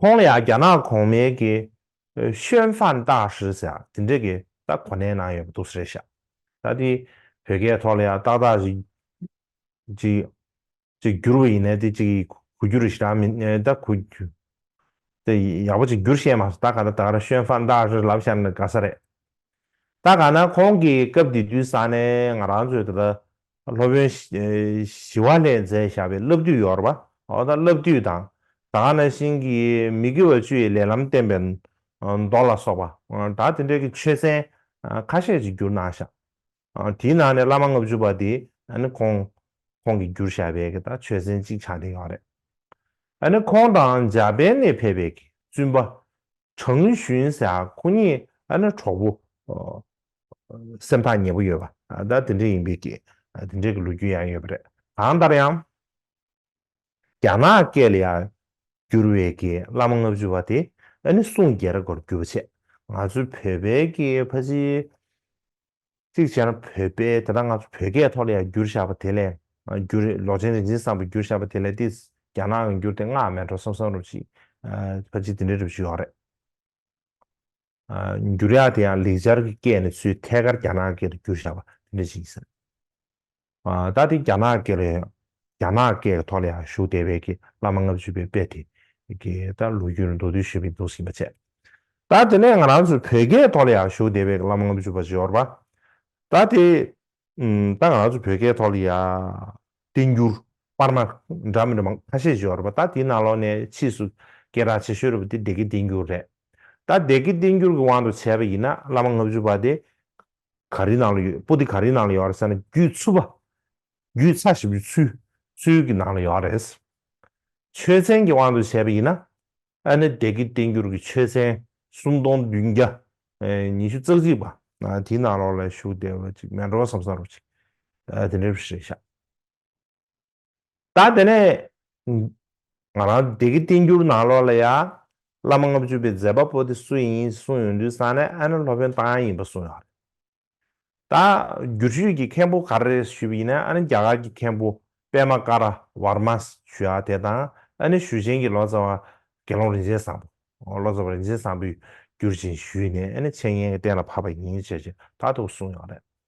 ཁོང་ལ་ཡང་རྒྱ་ནག་གོང་མའི་གི་ཤོན་ཧྥན་ཏག་ཧྲི་ཟེར་ཡང་དེ་འདྲས་གི་ཏག་གོ་ནའི་ནང་ཡོད་པ་འདུག་ཟེར་ཤག་ད་དེ་བོད་སྐད་ཐོག་ལ་ཡང་ཏག་ཏག་ཧྲི་ཅིག་ཅིག་བསྒྱུར་བ་ཡིན་ནའི་དེ་ཅིག་གུ་རྒྱུ་རུ་ཞིག་རང་མི་ནའི་ཏག་གུ་རྒྱུ་དེ་ཡག་པོ་ཅིག་བསྒྱུར་ཤེས་མ་སོང་ད་ག་ད་ཏག་ར་ཤོན་ཧྥན་ཏག་ཧྲི་ལབ་ཤར་ནི་དགའ་ས་རེད་ད་ག་ན་ཁོང་གི་སྐབས་དེ་དུས་ས་ནས་ང་རང་ཚོས་ད་ད་སློབ་དཔོན་ཞི་བ་ལྷས་མཛད་བཞག་པའི་བསླབ་བཏུས་ཡོར་བ། འོ་ན་བསླབ་བཏུས་དང། དག་སྣ་བཞིན་གྱིས་མི་དགེ་བ་བཅུ་ཡི་ལས་ལམ་བསྟན་པའི་མདོ་ལ་སོགས་པ། དག་དེ་འདྲ་གི་ཆོས་ཚན་ཁ་ཤས་ཅིག་བསྒྱུར་གནང་བཞག། དེའི་ནང་ནས་བླ་མ་ལྔ་བཅུ་པ་དེ་ནི་ཁོང་ཁོང་གིས་བསྒྱུར་བཞག་པའི་གི་དག་ཆོས་ཚན་གཅིག་ཆ་དེ་ཡོག་རེད། ཨ་ནི་ཁོང་དང་འཇག་པན་ནས་ཕེབས་པའི་གི་བཙུན་པ། ཁྲང་ཞུན་ཟེར་ཨ་ཁོ་གཉིས་ཨ་ན་གྲོགས་པོ། སེམས་ཐག་ཉེ་པོ་ཡོད་པ་ད་དེ་འདྲས་ཡིན་པས་དེ་འདྲས་ཀྱི་ལོ་རྒྱུས་ཡང་ཡོད་པ་རེད། གང་ལྟར་ཡང། རྒྱ་ནག་སྐད་ལ་ཡང་བསྒྱུར་བའི་གི་བླ་མ་ལྔ་བཅུ་བ་དེ་ཨ་ནི་སུང་རྒྱལ་ར་གོར་བསྒྱུར་བ་བྱས་ང་ཚོའི་བོད་པའི་གི་ཕ་ཆིའི། གཅིག་བྱས་ན་བོད་དཔེ་དེ་དག་ང་ཚོ་བོད་སྐད་ཐོག་ལ་ཡང་བསྒྱུར་བཞག་པ་དེ་ལས་བསྒྱུར་ལོག་ཅན་རིག་འཛིན་བཟང་པོས་བསྒྱུར་བཞག་པ་དེ་ལས་དེ་རྒྱ་ནག་གིས་བསྒྱུར་ཏེ་སྔགས་མེད་འགྲོ་བསམ་བསམ་རུབ་ཅིག་ཕ་གཅིག་དེ་འདྲའི་རིགས་ཞིག་ཡོད་རེད། བསྒྱུར་ཡག་དེ་ཡང་ལེགས་སྦྱར་གྱི་སྐད་ནི་ཚུལ་ཐད་ཀར་རྒྱ་ནག་སྐད་དུ་བསྒྱུར་བཞག་པ་དེ་འདྲ་ཞིག་ཡིན། ཟླ་འདིའི་རྒྱ་ནག་གི་རྒྱ་ནག་སྐད་ཀྱི་ཐོག་ལ་ཡང་ཞུགས་བསྡད་པའི་བླ་མ་ལྔ་བཅུ་པའི་དཔེ་དེ་གའི་ལྟར་ལོ་རྒྱུས་ལ་མདོ་བསྡུས་ཞིབ་ཕྲའི་མདོ་ཟིན་པ་བྱས། ཟླ་འདི་ནས་ང་རང་ཚོའི་བོད་སྐད་ཐོག་ལ་ཡང་ཞུགས་བསྡད་པའི་བླ་མ་ལྔ་བཅུ་པ་འབྱོར། ཟླ་དེ་ད་ང་རང་ཚོའི་བོད་སྐད་ཐོག་ལ་ཡང་བསྟན་འགྱུར་དཔར་མ་འདྲ་མི་འདྲ་མང་ཁ་ཤས་འབྱོར། ཟླ་དེའི་ནང་ལོགས་ནས་ཕྱིས་སུ་སྐད་གྲགས་ཆེ་ཤོས་རེད་པ་དེ་སྡེ་དགེ་བསྟན་འགྱུར་རེད། ཟླ་སྡེ་དགེ་བསྟན་འགྱུར་གྱི་དབང་དུ་བྱས་པ་ཡིན་ན་བླ་མ་ལྔ་བཅུ་པ་དེ་ག་རེའི་ནང་ལ་ཡོད་པོ་ཏི་ག་རེའི་ནང་ལ་ཡོད་རེད་ཟེར་ན་རྒྱུད་ཚུད་པ། རྒྱུད་ཚ་ཞེས་པའི་ཚུལ་ཚུལ་གྱི་ནང་ལ་ཡོད་རེད། ཆོས་ཚན་གྱི་དབང་དུ་བྱས་པ་ཡིན་ན་ཨ་ནི་བདེ་སྐྱིད་བསྟན་འགྱུར་གྱི་ཆོས་ཚན་སུམ་སྟོང་བདུན་བརྒྱ་ཉི་ཤུ་རྩ་གཅིག་པ། དེའི་ནང་ལོགས་ལ་བཞུགས་བདེ་བ་ཅིག་མེད་འགྲོ་བ་སམ་ས་རུབ་ཅིག་དེ་འདྲའི་རེ་བཞག། ད་དེ་ནས། ང་རང་སྡེ་དགེ་བསྟན་འགྱུར་ནང་ལོགས་ལ་ཡ། བླ་མ་ལྔ་བཅུ་པའི་མཛད་པ་པོ་དེ་སུ་ཡིན་གསུངས་ཡོང་དུས་ས་ནས་ཨ་ནེ་ལྷོ་བོན་སྟག་ཡང་ཡིན་པ་གསུངས་ཡོང་རེད། ད། འགྱུར་ཞུས་ཀྱི་མཁན་པོ་ག་རེ་རེད་ཞུས་པ་ཡིན་ན་ཨ་ནེ་རྒྱ་གར་གྱི་མཁན་པོ་པད་མ་ཀ་ར་ཝར་མ་ཞུ་ཡ་དེ་དང་ཨ་ནེ་ཞུ་ཆེན་གྱི་ལོ་ཙཱ་བ་དགེ་སློང་རིན་ཆེན་བཟང་པོ། ལོ་ཙཱ་བ་རིན་ཆེན་བཟང་པོས་འགྱུར་བཞིན་ཞུས་ནས་ཨ་ནེ་འཆད་ཉན་གྱི་གཏན་ལ་ཕབ་པ་ཡིན་ཞེས་ཀྱི་ད་དུ་གསུངས་ཡོང་རེད།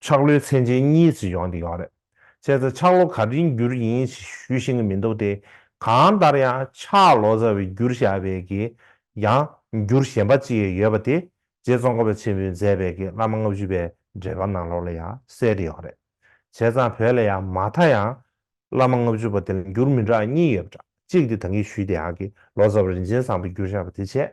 ཆག་ལོའི་ཚན་ཆེན་གཉིས་ཚེ་སྦྱོང་འདི་གང་རེད། བྱས་ཙང་ཆག་ལོ་ག་རིང་བསྒྱུར་ཡིན་ཞེས་ཞུས་ཤེས་ཀྱི་མི་འདུག་སྟེ། གང་ལྟར་ཡང་ཆག་ལོ་རྩ་བའི་བསྒྱུར་བཞག་པའི་གི་ཡང་བསྒྱུར་གཞན་པ་ཅིག་ཡོད་པ་དེ་རྗེ་ཙོང་ཁ་པ་ཆེན་པོས་མཛད་པའི་གི་བླ་མ་ལྔ་བཅུ་པའི་འགྲེལ་པ་ནང་ལོགས་ལ་ཡང་གསལ་འདི་གང་རེད། བྱས་ཙང་བོད་ལ་ཡང་མ་མཐའ་ཡང་བླ་མ་ལྔ་བཅུ་པ་དེ་ལ་འགྱུར་མི་འདྲ་གཉིས་ཡོད་པ་འདྲ་གཅིག་དེ་ད་གིན་ཞུས་དེ་ཡང་གི་ལོ་རྩ་བ་རིན་ཆེན་བཟང་པོ་བསྒྱུར་བཞག་པ་དེ་བྱས།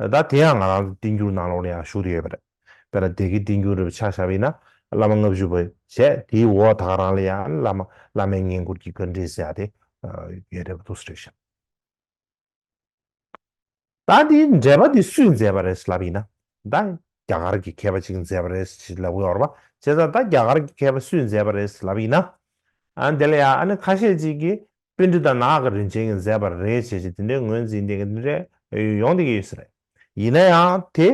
ད་ལྟ་དེ་ཡང་ང་རང་ཚོ་བསྟན་འགྱུར་ནང་ལོགས་ལ་ཡང་ཞུགས་ཏུ་ཡོད་པ་རེད། དཔེར་ན་སྡེ་དགེའི་བསྟན་འགྱུར་རི་བོ་ཕྱག་བཞག་པའི་ནང་བླ་མ་ལྔ་བཅུ་པོ་བྱས་དེའི་འོག་ད་ག་རང་ལ་ཡང་བླ་མ་བླ་མའི་བསྙེན་བཀུར་གྱི་བཀའ་འདྲི་ཟེར་ཡག་དེ་ཡོད་རེད་པ་ཐུགས་སུ་རེག་བཞག། ད་དེའི་འགྲེལ་པ་དེ་སུས་མཛད་པ་རེད་ལབ་ཡིན་ན་ད་རྒྱ་གར་གྱི་མཁས་པ་གཅིག་མཛད་པ་རེད་ཅེས་ལབ་དགོས་ཡོད་རེད་བྱས་ཙང་ད་རྒྱ་གར་གྱི་མཁས་པ་སུས་མཛད་པ་རེད་ལབ་ཡིན་ན་འདི་ལ་ཡང་ཨ་ནི་ཁ་ཤས་གཅིག་གིས་དཔེ་འབྲུ་དང་ནག་གི་རིན་ཆེན་གྱི་མཛེས་པར་རེ་བྱས་ཤིང་དེ་འདྲའི་ངོས་འཛིན་ལྡན་གྱི་འདི་འདྲའི་ཡོང་བསྡད་ཀྱི་ཡོད་ས་རེད། ཡིན་ན་ཡང་དེ་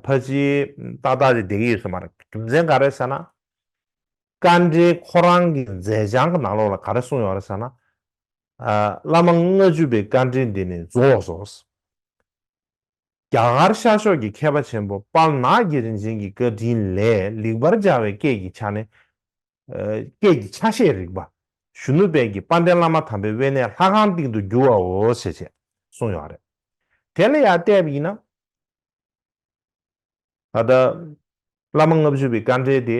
ཕལ་ཆེར་ཏག་ཏག་ཅིག་བསྡད་ཀྱི་ཡོད་ས་མ་རེད། རྒྱུ་མཚན་ག་རེ་ཟེར་ན། བཀའ་འགྲེལ་ཁོ་རང་གི་མཛད་བྱང་གི་ནང་ལོགས་ལ་ག་རེ་གསུངས་ཡོད་རེད་ཟེར་ན། བླ་མ་ལྔ་བཅུ་པའི་བཀའ་འགྲེལ་འདི་ནི་རྫོགས་སོ། རྒྱ་གར་ཤར་ཕྱོགས་ཀྱི་མཁས་པ་ཆེན་པོ་པཱལ་ནག་གི་རིན་ཆེན་གྱི་བཀའ་དྲིན་ལས་ལེགས་པར་སྦྱར་བའི་སྐད་ཀྱི་ཆ་ནས། སྐད་ཀྱི་ཆ་ཤས་རིག་པ་གཞོན་ནུ་དཔལ་གྱི་དཔལ་ལྡན་བླ་མ་དམ་པའི་དབེན་གནས་ལྷ་ཁང་སྟེང་དུ་བསྒྱུར་བའོ་ཞེས་བྱས་གསུངས་ཡོད་རེད། དེ་ལ་ཡང་ལྟས་བ་ཡིན་ན། ད་ལྟ་བླ་མ་ལྔ་བཅུ་པའི་དཀའ་འགྲེལ་དེ།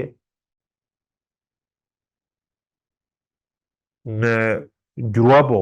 བསྒྱུར་བ་པོ།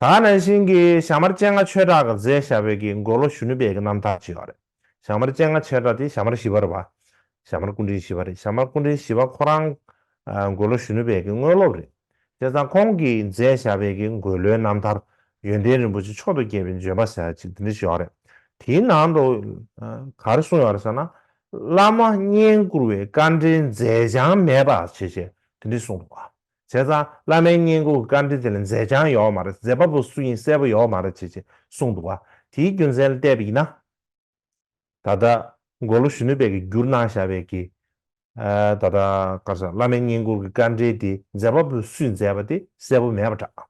ད་ནང་བཞིན་གྱི་ཞྭ་དམར་སྤྱན་སྔ་ཆོས་གྲགས་མཛད་ཞྭ་བོད་ཀྱི་འགོ་ལོ་གཞོན་ནུ་བེ་གི་རྣམ་ཐར་ཅེས་པ་རེད། ཞྭ་དམར་སྤྱན་སྔ་ཆོས་གྲགས་དེ་ཞྭ་དམར་བཞི་པར་བ། ཞྭ་དམར་སྐུ་འཕྲེང་བཞི་པ་རེད་ཞྭ་དམར་སྐུ་འཕྲེང་བཞི་པ་ཁོ་རང། འགོ་ལོ་གཞོན་ནུ་བེ་གི་དངོས་སློབ་རེད། དེ་ཙང་ཁོང་གིས་མཛད་ཞྭ་བེ་གི་འགོ་ལོའི་རྣམ་ཐར། ཡོན་ཏན་རིན་པོ་ཆེ་མཆོག་ཏུ་རྒྱས་པའི་འབྱོན་པ་ཟེར་བ་ཅིག་འདི་འདྲ་ཞིག་ཡོད་རེད། དེའི་ནང་དུ། གར་གསུངས་ཡོད་རེད་ཟེར་ན། བླ་མ་བསྙེན་བཀུར་བའི་བཀའ་འགྲེལ་མཛད་བྱང་མེད་པ་ཞེས་བྱས་དེ་འདྲ་གསུངས་འདུག་བ། བྱས་ཙང་བླ་མའི་བསྙེན་བཀུར་བཀའ་དྲིན་དེ་ལས་མཛད་བྱང་ཡོད་མ་རེད་མཛད་པ་པོ་སུ་ཡིན་གསལ་པོ་ཡོད་མ་རེད་ཅེས་ཅེས་གསུངས་འདུག་བ་དེའི་རྒྱུ་མཚན་བལྟས་པ་ཡིན་ན། ད་ལྟ་མགོ་ལོག་གཞོན་ནུ་བས་ཀྱི་བསྒྱུར་གནང་བཞག་པའི་ཀྱི། ད་ལྟ་བཀའ་ཤག་བླ་མའི་བསྙེན་བཀུར་གྱི་བཀའ་དྲིན་དེ་མཛད་པ་པོ་སུས་མཛད་པ་དེ་གསལ་པོ་མེད་པ་འདྲ།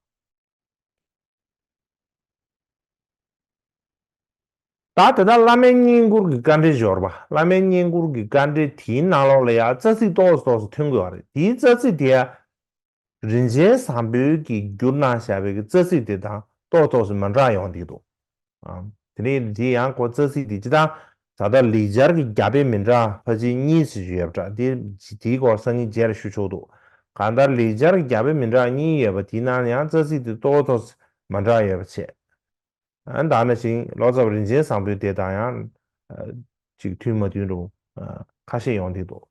ད་དེ་དག་བླ་མའི་བསྙེན་བཀུར་གྱི་བཀའ་འགྲེལ་འབྱོར་པ་བླ་མའི་བསྙེན་བཀུར་གྱི་བཀའ་འགྲེལ་དེའི་ནང་ལོགས་ལ་ཡང་རྩ་ཚིག་ཏོག་ཙམ་ཏོག་ཙམ་ཐོན་དགོས་པ་རེད་དེའི་རྩ་ཚིག་དེ་ཡང། རིན་ཆེན་བཟང་པོའི་གྱི་འགྱུར་ནང་བཞག་པའི་གྱི་རྩ་ཚིག་དེ་དང་ཏོག་ཏོག་ཙམ་མི་འདྲ་ཡོང་སྡིག་འདུག། དེ་རིང་འདི་ཡང་ཁོ་རྩ་ཚིག་འདི་ཅི་ལྟར་ད་ལྟ་ལེགས་སྦྱར་གྱི་རྒྱ་དཔེ་མི་འདྲ་བ་ཅི་གཉིས་ཞིག་ཡོད་པ་འདྲ་དེ་དེའི་སྐོར་སང་ཉིན་རྗེས་ལ་ཞུ་ཆོག་འདུག་གང་ལྟར་ལེགས་སྦྱར་གྱི་རྒྱ་དཔེ་མི་འདྲ་བ་གཉིས་ཡོད་པ་དེའི་ནང་ནས་ཡང་རྩ་ཚིག་དེ་གཙོ་བོ་ཐོགས་སེ་མ་འདྲ་ཡོད་པ་བྱེད། ཨ་ད་ན་བཞིན་ལོ་ཙཱ་བ་རིན་ཆེན་བཟང་པོའི་དེ་དང་ཡང་ཅིག་མཐུན་མ་མཐུན་རུང་ཁ་ཤས་ཡོང་དེ་འདུག།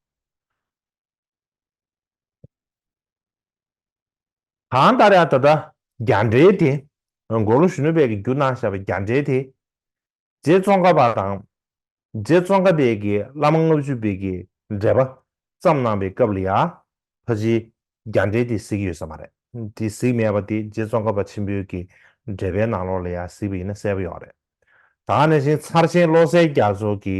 གང་ལྟར་ཡང་ད་ལྟ་རྒྱ་འདྲེ་དེ་མགོ་ལོག་གཞོན་ནུ་བས་ཀྱི་རྒྱུ་གནང་བཞག་པའི་རྒྱ་འདྲེ་དེ་རྗེ་ཙོང་ཁ་པ་དང་རྗེ་ཙོང་ཁ་པས་ཀྱི་བླ་མ་ལྔ་བཅུ་བས་ཀྱི་འགྲེལ་པ་བརྩམས་གནང་བའི་སྐབས་ལ་ཡང་ཕ་གཞིའི་རྒྱ་འདྲེ་དེ་གཟིགས་ཡོད་ས་མ་རེད་དེ་གཟིགས་མེད་པ་དེ་རྗེ་ཙོང་ཁ་པ་ཆེན་པོའི་ཀྱི་འགྲེལ་པའི་ནང་ལོགས་ལ་ཡང་གཟིགས་པ་ཡིན་ན་གསལ་པོ་ཡོང་རེད་ད་ནས་བཞིན་ཚར་ཆེན་བློ་གསལ་རྒྱ་མཚོ་གྱི།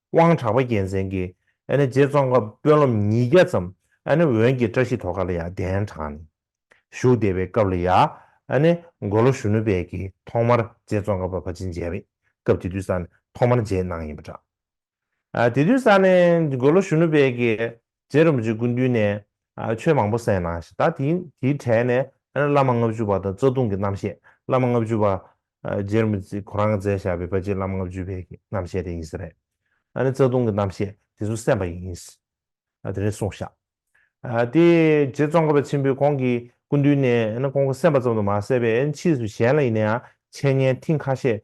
དབང་གྲགས་པ་རྒྱལ་མཚན་གྱི་རྗེ་ཙོང་ཁ་དཔོན་སློབ་ཉིས་བརྒྱ་ཙམ་བོན་གྱི་བཀྲ་ཤིས་དོ་ཁ་ལ་ཡང་གདན་དྲངས་ནས་བཞུགས་བསྡད་པའི་སྐབས་ལ་ཡང་མགོ་ལོག་གཞོན་ནུ་དཔལ་གྱིས་ཐོག་མར་རྗེ་ཙོང་ཁ་པ་ཕ་ཆིན་མཇལ་བའི་སྐབས་དེ་དུས་ས་ནས་ཐོག་མར་མཇལ་གནང་ཡིན་པ་འདྲ། དེ་དུས་ས་ནས་མགོ་ལོག་གཞོན་ནུ་དཔལ་གྱིས་རྗེ་རིན་པོ་ཆེ་སྐུ་མདུན་ནས་ཆོས་མང་པོ་གསན་གནང་ཞིང་ད་དེའི་གྲས་ནས་བླ་མ་ལྔ་བཅུ་པ་དང་རྩ་ལྟུང་གི་རྣམ་བཤད་བླ་མ་ལྔ་བཅུ་པ་རྗེ་རིན་པོ་ཆེ་གོ་རང་མཛད་བཞག་པའི་པ་ལྕེ་བླ་མ་ལྔ་བཅུ་པའི་རྣམ་བཤད་དེ་ཡིན་ས་རེད། ཨ་ནི་རྩ་ལྟུང་གི་རྣམ་བཤད་དེ་ཚོ་གསན་པ་ཡིན། དེ་རིང་གསུངས་བཞག་དེ་རྗེ་ཙོང་ཁ་པ་ཆེན་པོས་ཁོང་གི་སྐུ་མདུན་ནས་ཁོང་གིས་གསན་པ་ཙམ་དུ་མ་ཟད་པས་ཕྱིས་སུ་གཞན་ལ་ཡིན་ན་ཡང་འཆད་ཉན་ཐེངས་ཁ་ཤས་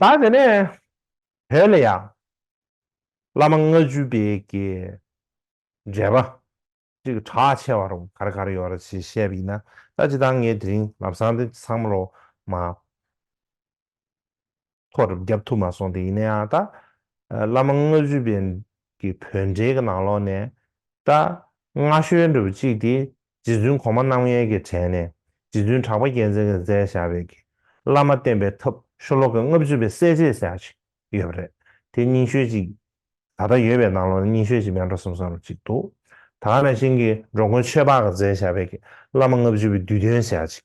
ད་དེ་ནས་བོད་ལ་ཡང་བླ་མ་ལྔ་བཅུ་པའི་གྱི་མཇལ་བ་ཅིག་གྲགས་ཆེ་བ་རུང་གར་གར་ཡོད་ར་ཞེས་བཤད་པ་ཡིན་ན་ད་ཅི་ད་ངས་དེ་རིང་ལབ་སང་དེ་ཚང་མ་ལོ་མ། ཐོག་རུབ་བརྒྱབ་ཐུབ་མ་སོང་དེ་ཡིན་ན་ཡང་ད། བླ་མ་ལྔ་བཅུ་བའི་གི་བོད་འབྲེལ་གི་ནང་ལོག་ནས། ད། སྔ་ཤོལ་འདྲ་བུ་གཅིག་དེ་རྗེ་བཙུན་གོང་མ་རྣམ་གཡེང་གི་དྲན་ནས་རྗེ་བཙུན་གྲགས་པ་རྒྱལ་མཚན་གི་མཛད་བཞག་བས་གི་བླ་མ་བསྟེན་པའི་ཐབས་ཤོ་ལོག་གི་ལྔ་བཅུ་བའི་གསལ་བྱེད་ཟེར་ཡག་ཅིག་ཡོད་པ་རེད་དེ་རྙིང་ཤོལ་གཅིག། ད་ལྟ་ཡོད་པའི་ནང་ལོག་ནས་རྙིང་ཤོལ་གཅིག་མེད་འགྲོ་སོང་ས་རུབ་གཅིག་འདུག་ད། རང་བཞིན་གི་འགྲོ་མགོན་ཆོས་འཕགས་གི་མཛད་བཞག་བས་གི་བླ་མ་ལྔ་བཅུ་བའི་བསྡུས་དོན་ཟེར་ཡག་ཅིག་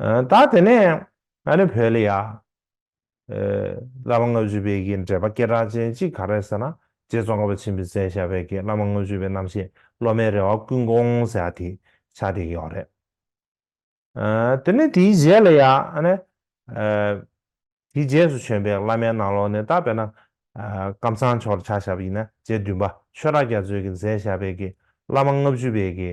ད་དེ་ནས་ང་ནི་བོད་ལ་ཡ། བླ་མ་ལྔ་བཅུ་པའི་གྱི་འགྲེལ་པ་སྐད་གྲགས་ཅན་གཅིག་ག་རེད་ཟེར་ན་རྗེ་ཙོང་ཁ་པ་ཆེན་པོའི་མཚན་ཞབས་པའི་གྱི་བླ་མ་ལྔ་བཅུ་པའི་རྣམ་བཤད་སློབ་མའི་རེ་བ་ཀུན་སྐོང་ཟེར་ཡ་དེ་ཕྱག་དེ་ཡོག་རེད། དེ་ནས་དེའི་རྗེས་ལ་ཡ། དེའི་རྗེས་སུ་བྱོན་པའི་བླ་མའི་ནང་ལོགས་ནས་ད་བེད་ན། ཀམ་ཚང་ཆོག་ཕྱག་ཞབས་ཡིན་ན་རྗེ་བདུན་པ་ཆོས་ར་རྒྱ་མཚོའི་གྱི་མཚན་ཞབས་པའི་གྱི་བླ་མ་ལྔ་བཅུ་པའི་གྱི།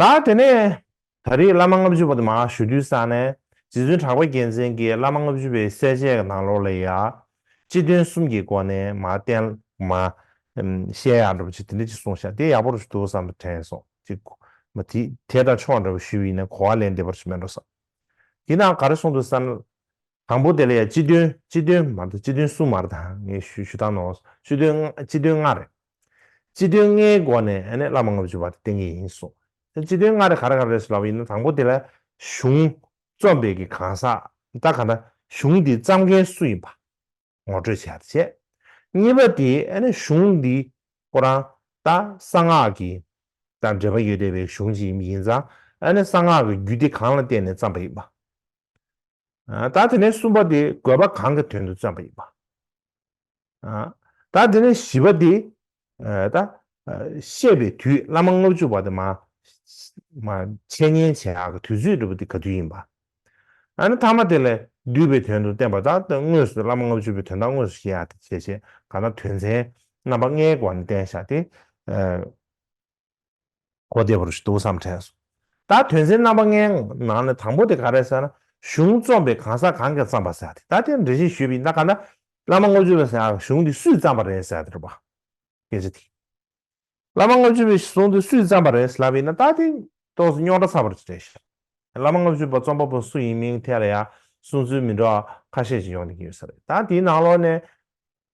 ད་དེ་ནས་ད་རེས་བླ་མ་ལྔ་བཅུ་པ་དུ་མ་ཞུ་དུས་ས་ནས་རྗེ་བཙུན་གྲགས་པ་རྒྱལ་མཚན་གྱིས་བླ་མ་ལྔ་བཅུ་པའི་གསལ་བྱེད་ཀྱི་ནང་ལོགས་ལས་ཡང་སྤྱི་དོན་གསུམ་གྱི་སྒོ་ནས་མ་བསྟན་མ་བཤད་ཡག་འདྲ་པོ་ཅིག་དེ་འདྲ་ཅིག་གསུངས་ཤག་དེ་ཡག་པོ་རུ་འདུག་བསམ་པ་དྲན་སོང་ཅིག་མ་དེ་དེ་འདྲ་ཆོག་འདྲ་པོ་ཞུས་པ་ཡིན་ན་གོ་བ་ལེན་བདེ་པོ་རུ་མེད་འགྲོ་བསམ། དེས་ན་ག་རེ་གསུངས་འདུག་བསམ། དང་པོ་དེ་ལ་ཡང་སྤྱི་དོན་སྤྱི་དོན་མར་དང་སྤྱི་དོན་གསུམ་མར་དང་ངས་ཞུ་ཞུ་དག་ནོ། སྤྱི་དོན་སྤྱི་དོན་ལྔ་རེད། སྤྱི་དོན་ལྔའི་སྒོ་ནས་ཨ་ནེ་བླ་མ་ལྔ་བཅུ་བ་དེ་བསྟན་གྱི་ཡིན་གསུངས། དེ་སྤྱི་དོན་ལྔ་རེ་ག་རེ་ག་རེ་རེད་ཟེར་ལབ་ཡིན་ན་དང་པོ་དེ་ལ་གཞུང་རྩོམ་པའི་གི་གང་ཟག་དང་ག་ན་གཞུང་འདི་བརྩམས་མཁན་སུ་ཡིན་པ་ངོ་སྤྲོད་བྱས་ཡག་བྱས། གཉིས་པ་དེ་ཨ་ནེ་གཞུང་འདི་ཁོ་རང་ད་གསང་སྔགས་ཀྱི་དང་འབྲེལ་པ་ཡོད་བསྡད་པའི་གཞུང་ཅིག་ཡིན་ཡིན་ཙང་ཨ་ནེ་གསང་སྔགས་ཀྱི་རྒྱུད་སྡེ་གང་ལ་བརྟེན་ནས་བརྩམས་པ་ཡིན་པ་ད་དེ་ནས་གསུམ་པ་དེ་དགོས་པ་གང་གི་དོན་དུ་བརྩོན་པ་ཡིན་པ། ད་དེ་ནས་བཞི་པ་དེ་ད་བཤད་པའི་དུས་བླ་མ་ལྔ་བཅུ་བ་དེ་མ་འཆད་ཉན་བྱེད་ཨ་གི་དུས་ཚོད་འགྲུབ་པ་དེ་ག་དུས་ཡིན་པ། ཨ་ནི་ཐ་མ་དེ་ལས་བསྡུས་པའི་དོན་དུ་བསྟན་པ་དང་དངོས་སུ་བླ་མ་ལྔ་བཅུ་བའི་དོན་དང་དངོས་སུ་བཤད་ཨ་དེ་བྱེད་བྱེད་གང་ན་དོན་ཚན་རྣམ་པ་ལྔའི་སྒོ་ནས་བསྟན་བཞག་སྟེ། གོ་བདེ་བོར་འདུག་བསམ་དྲན་སོང། ད་དོན་ཚན་རྣམ་པ་ལྔའི་ནང་ནས་དང་པོ་དེ་ག་རེད་ཟེར་ན་གཞུང་རྩོམ་པའི་གང་ཟག་གང་གིས་བརྩམས་པ་ཟེར་ཏེ་ད་དེར་འགྲེལ་བཤད་ཞུས་པ་ཡིན་ད་ག་ན་བླ་མ་ལྔ་བཅུ་བས་ཟེར་གཞུང་དེ་སུས་བརྩམས་པ་རེད་ཟེར་ཏེ་རོ་པ། སྐད་ཆ་དེ། བླ་མ་ལྔ་བཅུ་བས་གཞུང་དེ་སུས་བརྩམས་པ་རེད་ཟེར་ལབ་ཡིན་ན་ད་དེ་ཏོག་སུ་རྙོག་དྲ་ཚ་བར་བྱེད་རེད་ཤག། བླ་མ་ལྔ་བཅུ་བ་རྩོམ་པ་པོ་སུ་ཡིན་མིན་ཐད་ལ་ཡང་གསུང་ཚུལ་མི་འདྲ་བ་ཁ་ཤས་ཤིག་ཡོང་གི་ཡོད་ས་རེད་ད་དེའི་ནང་ལོགས་ནས་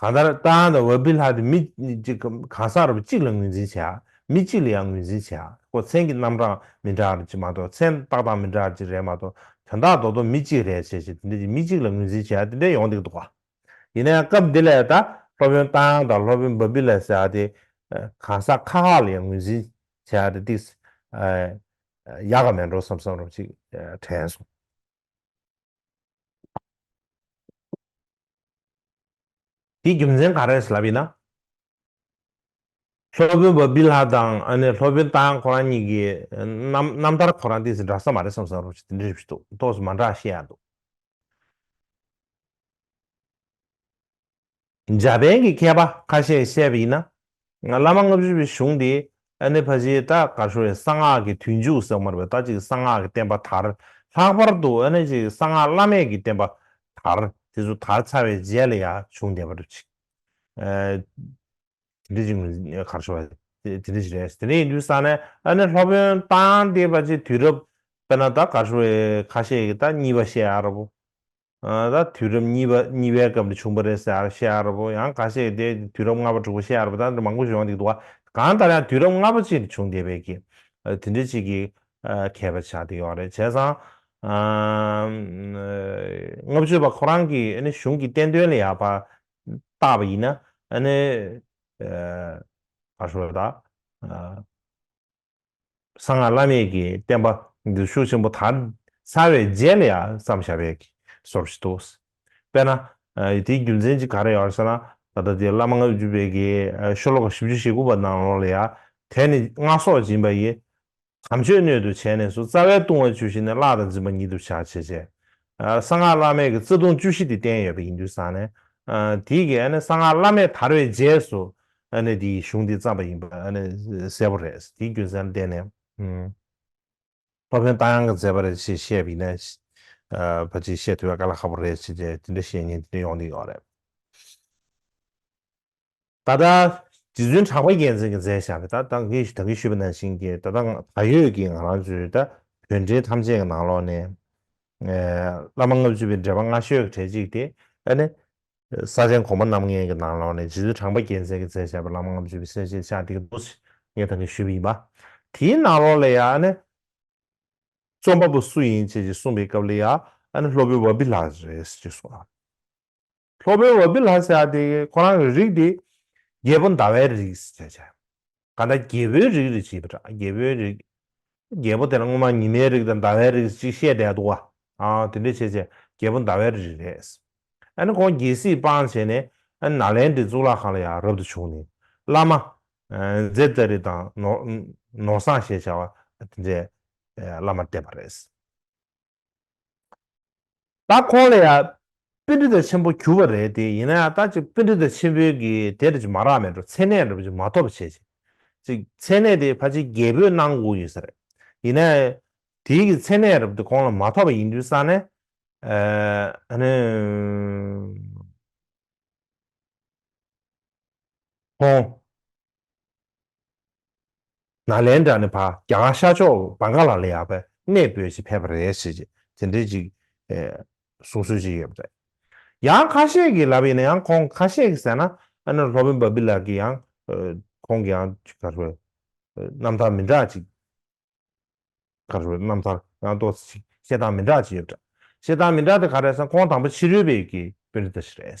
གང་ལྟར་རྟ་དབང་དང་བྷ་བྷི་ལྷ་དེ་མི་གཅིག་གམ་གང་ཟག་རབ་གཅིག་ལ་ངོས་འཛིན་བྱེད། མི་གཅིག་ལ་ཡང་ངོས་འཛིན་བྱེད། ཁོ་མཚན་གྱི་རྣམ་གྲངས་མི་འདྲ་བར་གྱི་མ་གཏོགས་མཚན་རྟགས་དང་མི་འདྲ་བར་གྱི་རེད་མ་གཏོགས་དོན་དག་རྡོག་རྡོག་མི་གཅིག་རེད་བྱས་བྱས་དེ་འདྲས་ཀྱི་མི་གཅིག་ལ་ངོས་འཛིན་བྱེད་དེ་འདྲས་ཡོང་འདུག་འདུག་ག། ཡིན་ན་ཡང་སྐབས་འདི་ལས་ད་སློབ་དཔོན་རྟ་དབང་དང་སློབ་དཔོན་བྷ་བྷི་ལྷ་ཟེར་བ་དེ་གང་ཟག་ཁག་ཁག་ལ་ཡང་ངོས་འཛིན་བྱེད་དེ་འདྲས་ཡག་ག་མེད་འགྲོ་བསམ་བསམ་རབ་གཅིག་དྲན་སོང། དེའི་རྒྱུ་མཚན་ག་རེད་ལབ་ཡིན་ན། སློབ་དཔོན་བ་སྦི་ལྷ་དང་ཨ་ནེ་སློབ་དཔོན་ཏཱ་ཁོ་རང་གཉིས་ཀྱི་རྣམ་ཐར་ཁོ་རང་དེ་ཚོ་འདྲ་ས་མ་རེད་བསམ་བསམ་རོགས་ཞེས་དེ་འདྲ་རེད་བཞིན་འདུག་ཏོག་ཙེ་མ་འདྲ་ཤེས་ཡག་འདུག། འཇར་པན་གྱི་མཁས་པ་ཁ་ཤས་བཤད་པ་ཡིན་ན། ང་བླ་མ་ལྔ་བཞི་པའི་གཞུང་དེ་ཨ་ནེ་བྷ་ཇའི་ཏཱ་ཀ་ཧྲུའེ་གསང་སྔགས་ཀྱི་དུས་མཇུག་ཟེགས་མར་བའི་ད་ཅིག་གསང་སྔགས་ཀྱི་བསྟན་པ་དར། ལྷག་པར་དུ་ཨ་ནེ་བྷ་ཇའི་གསང་སྔགས་བླ་མེད་ཀྱི་བསྟན་པ་དར། དེ་ཚོ་དར་ཚར་བའི་རྗེས་ལ་ཡང་གཞུང་འདི་བར་ཆིག་དེ་འདྲ་ཅིག་གར་བྱུང་བ་དེ་འདྲ་ཞིག་རེད། དེ་འདྲ་ཡིན་དུས་ས་ནས་ཨ་ནེ་ལྷོ་བོན་ཏཱ་ཡང་ཏེ་བྷ་ཇའི་དུས་རབས་དཔེར་ན་ཏཱ་ཀ་ཧྲུའེ་ཁ་ཤས་ཀྱི་ཏཱ་གཉིས་པ་ཤེས་ཨ་ར་བོ། ད་དུས་རབས་གཉིས་པ་གཉིས་པའི་སྐབས་ནས་བྱུང་བ་རེད་ཟེར་ཤེས་ཡག་རེད་བོ། ཡང་ག་ཤེད་དེ་དུས་རབས་ལྔ་པ་དྲུག་པ་ཤེས་ཡག་རེད་བོ་ད་འདྲ་མང་པོ་བྱུང་ཡག་འདུག་དུ་བ། གང་ལྟར་ཡང་དུས་རབས་ལྔ་པ་ཅིག་ནས་བྱུང་བསྡད་པའི་གི། དེ་འདྲའི་ཅིག་གི། མཁས་པ་ཆགས་བསྡད་ཡོག་རེད་བྱས་ཙང། ལྔ་བཅུ་བ་ཁོ་རང་གི་ཨ་ནི་གཞུང་གི་བསྟན་དོན་ལ་ཡག་པ། བཏགས་པ་ཡིན་ན་ཨ་ནི། ཨ་ཧྲོད་ད། གསང་སྔགས་བླ་མེད་ཀྱི་བསྟན་པ་འདུལ་ཤུགས་ཆེན་པོ་དར་ནས་ཚར་བའི་རྗེས་ལ་ཡང་བསམ་བྱ་བའི་གི་སོར་བཞི་འདུག། དཔེར་ན། དེའི་རྒྱུ་མཚན་གཅིག་ག་རེ་ཡོད་ཟེར་ན། ད་ལྟ་དེ་བླ་མ་ལྔ་བཅུ་པའི་གི་ཤོ་ལོ་ཀ་བཞི་བཅུ་ཞེ་དགུ་པ་ནང་ལོགས་ལ་ཡང་དེ་ནི་སྔགས་སྲོག་སྦྱིན་པ་ཡི། དམ་ཆོས་སྣོད་དུ་བྱས་ནས་སུ་རྩ་བའི་ལྟུང་བ་བཅུ་ཞི་ནས་བརླག་དང་འཛིན་པ་ཉིད་དུ་བྱ་བྱེད་བྱེད་གསང་སྔགས་བླ་མེད་ཀྱི་བརྩེ་དུང་བཅུ་བཞི་དེ་བསྟན་ཡོད་པ་ཡིན་དུས་བཟང་ནས། དེའི་གསང་སྔགས་བླ་མེད་དར་བའི་རྗེས་སུ། དེའི་གཞུང་དེ་བརྩམས་པ་ཡིན་པ་གསལ་པོ་རེད། དེའི་རྒྱུ་མཚན་ལ་བརྟེན་ནས། སློབ་དཔོན་རྟ་དབྱངས་ཀྱི་མཛད་པ་རེད་ཅེས་བཤད་པ་ཡིན་ན། བ་ཅེས་བཤད་ཐུབ་པའི་དཀའ་ལས་ཁག་པོ་རེད་ཅེས་དེ་འདྲ་བཤད་ཉེན་དེ་འདྲ་ཡོང་གི་ཡོད་རེད། ད་ལྟ་རྗེ་བཙུན་གྲགས་པ་རྒྱལ་མཚན་གྱིས་མཛད་བཞག་གི་ད་ང་གིས་ད་གིས་ཞུས་པ་ནང་བཞིན་གྱི་ད་ལྟ་ད་ཡོད་ཀྱི་ང་རང་ཚོའི་ད་བོད་འབྲེལ་ཐམས་ཅད་ཀྱི་ནང་ལོགས་ནས། བླ་མ་ལྔ་བཅུ་པའི་འགྲེལ་པ་སྔ་ཤོས་ཀྱི་གྲས་གཅིག་སྟེ། ཨ་ནི། ས་ཆེན་གོང་མ་རྣམ་ལྔའི་གྱི་ནང་ལོགས་ནས་རྗེ་བཙུན་གྲགས་པ་རྒྱལ་མཚན་གྱིས་མཛད་བཞག་པའི་བླ་མ་ལྔ་བཅུ་པའི་གསལ་བྱེད་ཕྱག་བྲིས་ཀྱི་མདོ་ཞིག་ངས་ད་གིས་ཞུས་པ་ཡིན་པ། དེའི་ནང་ལོགས་ལ་ཡང་ཨ་ནི། རྩོམ་པ་པོ་སུ་ཡིན་བཅས་ཀྱི་གསུངས་པའི་སྐབས་ལ་ཡང་ཨ་ནི་སློབ་དཔོན་བྷ་བྷི་ལགས་རེད་ཅེས་གསུངས། སློབ་དཔོན་བཱ་པི་ལྷ་སེ་ཨ་ཏི་ཀས་ཁོ་རང་གི་རིགས་དེ་རྒྱལ་པོ་ཟླ་བའི་རིགས་ཞེས་བྱ། ག་ད་རྒྱལ་པོའི་རིགས་རེད་བྱས་པ་འདྲ་རྒྱལ་པོའི་རིགས། རྒྱལ་པོ་དེ་ལ་སྔོན་མ་ཉི་མའི་རིགས་དང་ཟླ་བའི་རིགས་གཅིག་བཤད་བསྡད་འདུག་བ། དེ་འདྲས་བྱས་བྱས་རྒྱལ་པོ་ཟླ་བའི་རིགས་རེད། ཨ་ནི་ཁོང་རྒྱལ་སྲིད་སྤངས་བྱས་ནས་ཨ་ནི་ནཱ་ལེནྡྲའི་གཙུག་ལག་ཁང་ལ་ཡང་རབ་ཏུ་བྱུང་ནས་བླ་མ། ཛེ་ཏཱ་རི་དང་ནོར་བཟངས་ཞེས་བྱ་བ་དེ་འདྲས་བླ་མར་བསྟེན་པ་རེད། ད་ཁོང་ལ་ཡང་དཔེ་འདི་ལྟར་ཆེན་པོ་གྱུར་པ་རེད་དེ་ཡིན་ན་ཡང་ད་ཅིག་དཔེ་འདི་ལྟར་ཆེན་པོའི་གི་དེ་རེད་ཅིག་མ་རག་མེད་འགྲོ་མཚན་གནས་རེད་པ་ཅིག་མ་ཐོབ་བྱེད་ཅིག་ཅིག་མཚན་གནས་དེ་ཕ་ཆེ་རྒྱལ་པོས་གནང་དགོས་ཡོད་ས་རེད་ཡིན་ན་ཡང་དེའི་གི་མཚན་གནས་རེད་པ་དེ་ཁོང་ལ་མ་ཐོབ་པ་ཡིན་དུས་སང་ནས་ཨ་ནི། ཁོང། ནཱ་ལེནྡྲ་ནི་བ་ག་ཤ་མཆོག་བ་ག་ལ་ལ་ཡག་པའི་གནས་སྤོས་ཆེད་ཕེབས་པ་རེད་ཟེར་ཅིག་དེ་འདྲའི་ཅིག་གསུང་སྲོལ་ཅིག་ཡོད་པ་རེད། ཡང་ཁ་ཤས་ཀྱིས་ལབ་ཡིན་ན་ཡང་ཁོང་ཁ་ཤས་ཀྱིས་ཟེར་ན་ཨ་ནེ་ལྷོ་བན་བ་བི་ལགས་ཀྱིས་ཡང་ཁོང་གི་ཡང་ཅིག་ག་རེ་བའི་རྣམ་ཐར་མི་འདྲ་ཅིག་ག་རེ་བའི་རྣམ་ཐར་ཡང་ཏོག་ཙེ་ཅིག་བཤད་སྟངས་མི་འདྲ་ཅིག་ཡོད་པ་རེད། བཤད་སྟངས་མི་འདྲ་དེ་ག་རེད་ཟེར་ན་ཁོང་དང་པོ་ཕྱི་རོལ་བས་ཀྱི་དཔོན་རིགས་དེ་ཞིག་རེད།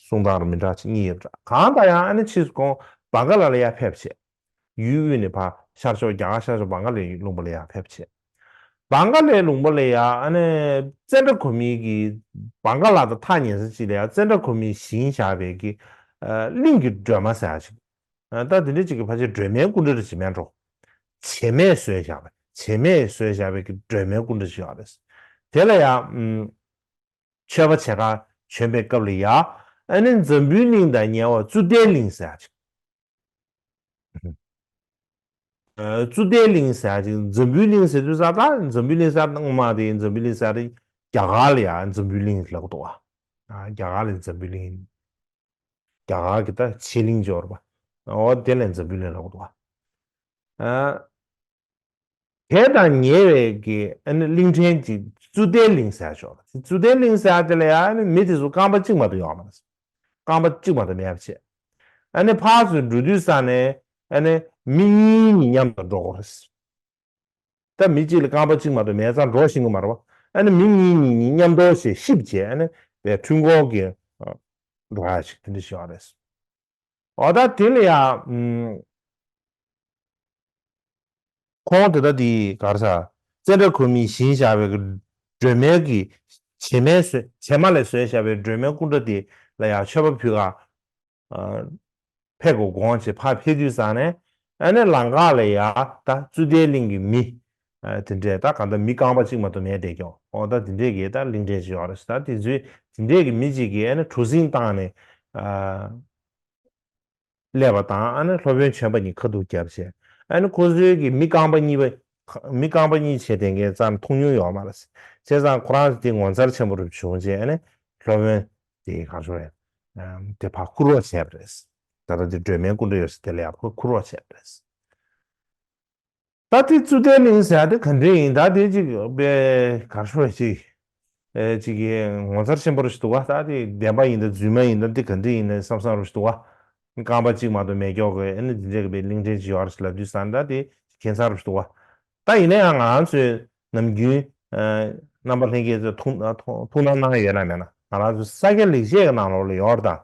གསུང་དང་རུ་མི་འདྲ་ཕྱི་གཉིས་ཡོད་འདྲ། གང་ལྟར་ཡང་ཨ་ནེ་ཕྱིས་སུ་ཀོང་བཱ་ག་ལ་ལ་ཡར་ཕེབས་བྱས། ཡུལ་དབུས་ནས་བྷ་ཤར་ཕྱོགས་རྒྱ་གར་ཤར་ཕྱོགས་བཱང་ག་ལའི་ལུང་པ་ལ་ཡར་ཕེབས་བྱས། བཱང་ག་ལའི་ལུང་པ་ལ་ཡར་ཨ་ནེ་ཙན་དྲ་གོ་མི་གིས་བཱང་ག་ལ་དང་ཐག་ཉེ་ས་གཅིག་ལ་ཡར་ཙན་དྲ་གོ་མི་བཞིན་བཞག་པའི་གི་གླིང་གི་སྒྲོལ་མ་ཟེར་བ་ཞིག་ལྟ། ལྟ་དེ་འདྲའི་གཅིག་གི་ཕ་ཆེ་སྒྲོལ་མའི་སྐུ་འདྲ་རེ་བྱེ་མས་འགྲོ། བྱེ་མས་བཟོས་བཞག་པ་བྱེ་མས་བཟོས་བཞག་པའི་གི་སྒྲོལ་མའི་སྐུ་འདྲ་ཞིག་ཡོད་རེད། དེ་ལ་ཡར། མཆོད་པ་བྱེད་ཁང་བྱོན་པའི་སྐབས་ལ་ཡཱ་ཨན་ནི་འཛམ་བུའི་གླིང་དང་ཉེ་བར་བཙུན་ཏའི་གླིང་ཟེར་ཅིང། བཙུན་ཏའི་གླིང་ཟེར་ཅིང་འཛམ་བུའི་གླིང་ཟེར་དུས་ས་དང་འཛམ་བུའི་གླིང་ཟེར་ན་ངོ་མ་དེ་འཛམ་བུའི་གླིང་ཟེར་རྒྱ་གར་ལ་ཡཱ་འཛམ་བུའི་གླིང་ལགས་འདུག་བ། རྒྱ་གར་ལ་འཛམ་བུའི་གླིང་ཡིན། རྒྱ་གར་གྱི་ད་ཕྱི་གླིང་འབྱོར་བ། འོ་དེ་ལ་འཛམ་བུའི་གླིང་ལགས་འདུག་བ། དེ་དང་ཉེ་བའི་གླིང་ཕྲན་གྱི་ཙུ་ཏའི་གླིང་ཟེར་ཆོག་ལ། ཙུ་ཏའི་གླིང་ཟེར་དེ་ལ་ཡང་མི་དེ་ཚོ་རྐང་པ་གཅིག་མ་གཏོགས་ཡོང་མ་སོང། རྐང་པ་གཅིག་མ་གཏོགས་མེད་པ་བྱས། ཨ་ཕ་ཚོས་འགྲོ་དུས་ས་ནས་མི་གཉིས་གཉིས་མཉམ་དུ་འགྲོ་དགོས། ད་མི་གཅིག་ལ་རྐང་པ་གཅིག་མ་གཏོགས་མེད་ཙང་འགྲོ་ཤེས་གི་མ་རེད། མི་གཉིས་གཉིས་གཉིས་མཉམ་འགྲོ་ཞེས་ཤིབ་བྱས་པའི་འཕྲུལ་འཁོར་གྱི་འགྲོ་བ་ཞིག་དེ་འདྲ་ཞིག་ཡོང་བ་རེད། ཨོ་ད་དེ་ལ་ཡང། ཁོང་དེ་ལྟ་དེའི་གར་ས། བཙན་བྲག་ཁོལ་མིའི་བཞིན་བཞག་པའི་སྒྲོལ་མས་ཀྱི། བྱེ་མའི་ཟོལ་བྱེ་མ་ལས་ཟོལ་བཞག་པའི་སྒྲོལ་མའི་སྐུ་འདྲ་དེ་ལ་ཡང་མཆོད་པ་ཕུལ། ཨ་ཕས་གོ་དགོངས་བྱས་ཕ་ཕས་དུས་བཟང་ནས། ཨ་ནེ་ལང་ཀ་ལ་ཡ། ད་བཙུན་ཟླའི་གླིང་གི་མི། དེ་འདྲས་ད་ག་ད་མི་རྐང་པ་གཅིག་མ་གཏོགས་མེད་བསྡད་ཀྱང་ཨོ་ད་དེ་འདྲས་ཀྱི་ད་གླིང་འདྲས་ཅིག་ཡོད་རེད་ད་དེ་ཚོའི་དེ་འདྲས་ཀྱི་མི་གཅིག་གིས་ཨ་ན་གྲུ་གཟིངས་བཏང་ནས་སླེབས་པ་དང་ཨ་ན་སློབ་དཔོན་ཆེན་པ་གཉིས་ཁ་ཐུག་རྒྱབ་བྱས་ཨ་ན་ཁོ་ཚོའི་གི་མི་རྐང་པ་གཉིས་པ་མི་རྐང་པ་གཉིས་བྱས་དེ་འགའི་རྩར་མཐོང་མྱོང་ཡོད་མ་རེད་བྱས་ཙང་ཁོ་རང་དེ་ངོ་མཚར་ཆེན་པོ་རུ་བྱུང་རྗེས་ཨ་ན་སློབ་དཔོན་དེས་གང་བྱུང་རེད་དེ་ཕ་ཁུར་རོགས་བྱས་པ་རེད་ད་ད་དེ་སྒྲོལ་མའི་སྐུ་འདྲ་ཡོད་ས་དེ་ལ་ཡང་ཕ་ཁུར་རོགས་བྱས་པ་རེད། ད་ལྟའི་རྩུ་ལྟའི་གླིང་ཟེར་ཡ་དེ་ག་འདྲའི་ཡིན་ད་ལྟའི་ཅིག་དཔེ་གར་ཤོ་བའི་ཅིག་ཅིག་གི་ངོ་མཚར་ཆེན་པོ་རེད་འདུག་བ་ད་དེ་བདེན་པ་ཡིན་ད་རྫུན་མ་ཡིན་ད་འདི་ག་འདྲའི་ཡིན་ནའི་བསམ་བསམ་རེད་འདུག་བ་རྐང་པ་ཅིག་མ་གཏོགས་མེད་ཀྱོག་གི་ཨེ་ནི་འདི་འདྲའི་གི་པའི་གླིང་ཕྲན་ཅིག་ཡོད་རེད་ལབ་དུས་སང་ད་དེ་གན་ས་རེད་འདུག་བ་ད་ཡིན་ནའི་ཡང་ང་ཚོའི་ནམ་རྒྱུན་རྣམ་པ་ལྷན་རྒྱས་ཚོས་ཐུགས་སྣང་གནང་ཡོད་ན་མེད་ན་ང་རང་ཚོའི་ས་སྐྱ་ལེགས་བཤད་གི་ནང་ལོགས་ལ་ཡོད་རེད་ད།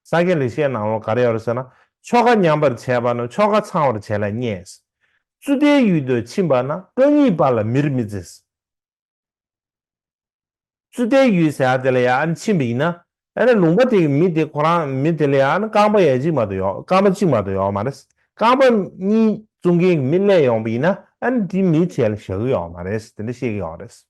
ས་སྐྱའི་ལེགས་བཤད་ནང་ལོ་ག་རེ་ཡོད་རེད་ཟེར་ན། ཆོ་ག་ཉམས་པར་བྱས་པ་ནི་ཆོ་ག་ཚང་བར་བྱས་ལ་བསྙེགས། རྩུ་ལྟའི་ཡུལ་དུ་ཕྱིན་པ་ན་རྐང་གཉིས་པ་ལ་མིར་མི་བརྩི། རྩུ་ལྟའི་ཡུལ་ཟེར་བ་དེ་ལ་ཡང་ཕྱིན་པ་ཡིན་ན། ཡང་ན་ལུང་པ་དེ་གི་མི་དེ་ཁོ་རང་མི་དེ་ལ་ཡང་ན་རྐང་པ་ཡ་གཅིག་མ་གཏོགས་ཡོད་རྐང་པ་གཅིག་མ་གཏོགས་ཡོད་མ་རེད། རྐང་པ་གཉིས་བཙུགས་མཁན་གྱི་མི་གླས་ཡོང་པ་ཡིན་ན་ཡང་ན་དེའི་མི་བྱས་ལ་བཞག་གི་ཡོད་མ་རེད་དེ་འདྲ་བཤད་ཀྱི་ཡོད་རེད།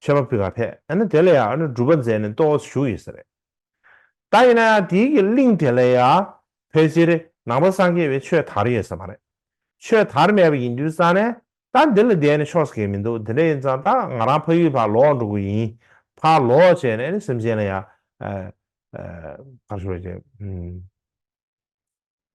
ཆོས་པ་ཕི་ག་ཐེ་ཨ་ནི་དེ་ལ་ཡང་ཨ་ནི་སྒྲུབ་པ་མཛད་ནས་ཏོའོ་སུ་བཞུགས་ཡོད་ས་རེད། ད་ཡིན་ན་ཡང་དེའི་གི་གླིང་དེ་ལ་ཡང་ཕལ་ཆེར་ནང་པ་སངས་རྒྱས་པའི་ཆོས་དར་ཡོད་ས་མ་རེད། ཆོས་དར་མེད་པ་ཡིན་དུས་ཙང་ནས་ད་འདི་ལ་བསྡད་ནས་ཆོག་ས་གས་མི་འདུག་དེ་འདྲ་ཡིན་ཙང་ད་ང་རང་ཕ་ཡུལ་བར་ལོག་འགྲོ་དགོས་ཡིན། བར་ལོག་བྱས་ནས་ཨ་ནི་སེམས་ཅན་ལ་ཡང།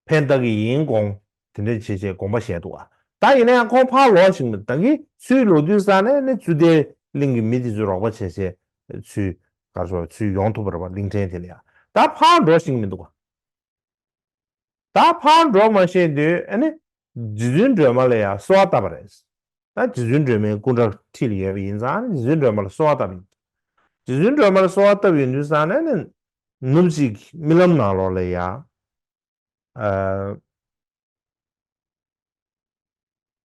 ཕས་བདག་གི་ཡིན་དགོངས། དེ་འདྲའི་བྱེད་ཅེས་དགོངས་པ་བཞེད་འདུག་ཨ། ད་ཡིན་ན་ཡང་ཁོང་ཕར་ལོག་ཅིག་མི་བདག་གིས་ཚུལ་ལོ་དུས་བསགས་ནས་ནི་ཙུ་ཏའི་གླིང་གི་མི་དེ་ཚོས་རོགས་པ་བྱེད་བྱས་ཚུལ་གར་སོང་བའི་ཚུལ་ཡོང་ཐུབ་པར་བ་གླིང་ཕྲན་དེ་ནི་ཨ། ད་ཕར་འགྲོ་ཞིག་མི་འདུག་ཨ། ད་ཕར་འགྲོ་མ་ཤེས་དུས་ཨ་ནི། རྗེ་བཙུན་སྒྲོལ་མ་ལ་ཡང་གསོལ་བ་བཏབ་པ་རེད། ད་རྗེ་བཙུན་སྒྲོལ་མའི་སྐུ་འདྲ་ཁྲིད་ལ་ཡོད་པ་ཡིན་ཙང་ཨ་ནི་རྗེ་བཙུན་སྒྲོལ་མ་ལ་གསོལ་བ་བཏབ་ཡོད། རྗེ་བཙུན་སྒྲོལ་མ་ལ་གསོལ་བ་བཏབ་ཡོད་དུས་བསགས་ནས་ནི། ནུབ་གཅིག་རྨི་ལམ་ནང་ལོག་ལ་ཡ།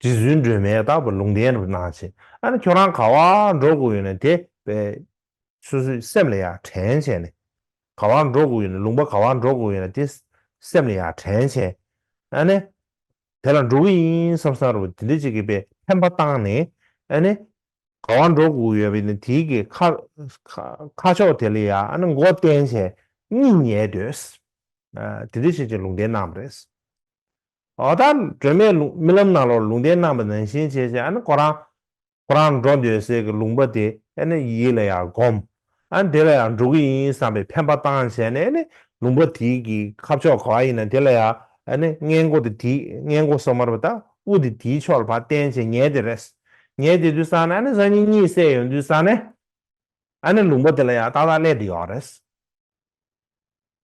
རྗེ་བཙུན་སྒྲོལ་མས་བདག་བར་ལུང་བསྟན་རབ་གནང་བྱས། ཨ་ནི་ཁྱོད་རང་ག་བར་འགྲོ་དགོས་ཡོད་ན་དེ་བས། སོ་སོའི་སེམས་ལ་ཡ་དྲན་བྱས་ནས། ག་བར་འགྲོ་དགོས་ཡོད་ན་ལུང་པ་ག་བར་འགྲོ་དགོས་ཡོད་ན་དེ་སེམས་ལ་ཡ་དྲན་བྱས། ཨ་ནི། དེ་ལ་འགྲོ་གི་ཡིན་བསམ་བསམ་རུང་དེ་འདྲའི་ཅིག་གི་པས་ཕན་པ་བཏང་ནས། ཨ་ནི། ག་བ་འགྲོ་དགུ་ཡོད་པའི་ནི་དེའི་གི་ཁ། ཁ་ཕྱོགས་དེ་ལ་ཡ་ཨ་ནི་མགོ་བསྟན་བྱས་གཉིས་ཉལ་འདོད། དེ་དུས་བྱས་ཅི་ལུང་བསྟན་གནང་བ་རེད། ཨོ་ད་སྒྲོལ་མས་རྨི་ལམ་ནང་ལོར་ལུང་བསྟན་གནང་བ་ནང་བཞིན་བྱས་བྱས་ཨ་ནི་ཁོ་རང། ཁོ་རང་འགྲོ་འདོད་ཟེར་གི་ལུང་པ་དེ་ཨ་ནི་ཡིད་ལ་ཡ་སྒོམས། ཨ་དེ་ལ་ཡང་འགྲོ་གི་ཡིན་བསམ་པའི་ཕན་པ་བཏང་བྱས་ནས་ནི་ལུང་པ་དེ་གི་ཁ་ཕྱོགས་ག་བ་ཡིན་ན་དེ་ལ་ཡང་ནི་སྔས་མགོ་དེ་དེ་སྔས་མགོ་སོ་མར་བ་དང་དབུ་དེ་དེའི་ཕྱོགས་ལ་བ་བསྟན་བྱས་ཉལ་དེ་རེད། ཉལ་དེ་དུས་སང་ནི་ཨ་ནི་སང་ཉིན་གཉིད་བསད་ཡོང་དུས་སང་ནི་ཨ་ནི་ལུང་པ་དེ་ལ་ཡང་ཏག་ཏག་སླད་དུ་ཡོང་རེད།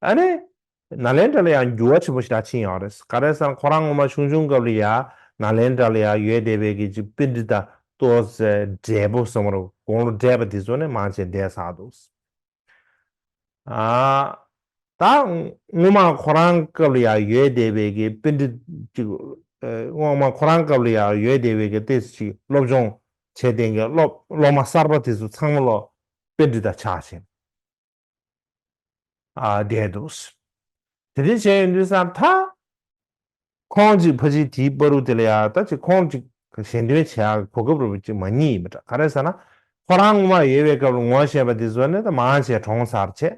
ཨ་རེ། ནཱ་ལེནྡྲ་ལ་ཡང་འགྱུར་བ་ཆེན་པོ་ཞིག་ད་ཕྱིན་ཡོང་རེད། ག་རེ་ཟར་ཁོ་རང་ངོ་མ་ཆུང་ཆུང་སྐབས་ལ་ཡང་ནཱ་ལེནྡྲ་ལ་ཡང་ཡོད་བསྡད་པའི་གི་ཅིག་པིན་དྲི་དང་ཏོ་ཟེར་འབྲས་བུ་གསུམ་རུ་དགོང་ལོ་འབྲས་བུ་དེ་ཚོ་ནི་མང་ཆེ་འདས་ཟགས་འདུག། ཨ། ད་ངོ་མ་ཁོ་རང་སྐབས་ལ་ཡང་ཡོད་བསྡད་པའི་གི་པིན་དྲི་ཅིག་ངོ་མ་ཁོ་རང་སྐབས་ལ་ཡང་ཡོད་བསྡད་པའི་གི་ཏི་ཅིག་སློབ་སྦྱོང་བྱས་བསྟེན་གི་སློབ་སློབ་མ་གསར་པ་དེ་ཚོ་ཚང་མ་ལོ་པིན་དྲི་དང་ཆགས་ཞེན། བསྡད་འདུག། དེ་དེ་བྱས་ཡོད་འདུག་བསམ་མཐའ། ཁོང་ཅིག་ཕ་ཅིག་དེའི་པ་རུ་དེ་ལ་ཡ་ད་ཅིག་ཁོང་ཅིག་གཞན་དོན་བྱེད་ཡག་གི་གོ་སྐབས་རུ་བ་ཅིག་མ་རྙེད་ཡིན་པ་འདྲ་ག་རེ་ཟེར་ན། ཁོ་རང་ངོ་མ་ཡོད་པའི་སྐབས་ལ་ངོ་བཤད་པ་དེ་བཟོ་ནས་ད་མང་ཆེ་གྲོང་གསར་ཆེ།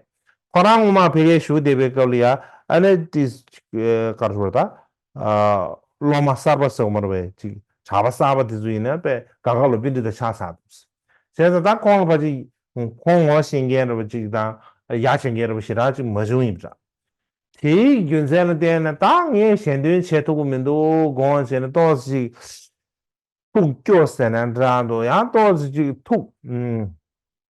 ཁོ་རང་ངོ་མ་བྷེ་གའི་བཞུགས་བསྡད་པའི་སྐབས་ལ་ཡ་ཨ་ནེ་ཏིས་ཀར་ཧྲུར་ད་སློབ་མ་གསར་པ་ཟོག་མར་བས་ཅིག་བྱ་བ་གསར་པ་དེ་ཚོ་ཡིན་ན་པས་དགའ་དགའ་ལོ་པི་འདི་དང་ཆགས་ཆགས་འདུག་ཟེར་ཟེར་ད་ད་ཁོང་ལ་བར་ཅིག་ཁོང་ངོ་ཤེས་མཁན་རེད་པ་ཅིག་དང་ཡ་ཆེ་མཁན་རེད་པ་ཞེ་དྲག་ཅིག་མ་བྱུང་ཡིན་པ་འདྲ། དེའི་རྒྱུ་མཚན་ལ་བལྟས་ན་ད་ངས་གཞན་དོན་བྱེད་ཐུབ་པོ་མི་འདུག་དགོངས་བྱས་ན་ཏོག་ཙེ་ཅིག་ཐུགས་སྐྱོ་ཟེར་ན་འདྲ་འདུག་ཡང་ཏོག་ཙེ་ཅིག་ཐུགས།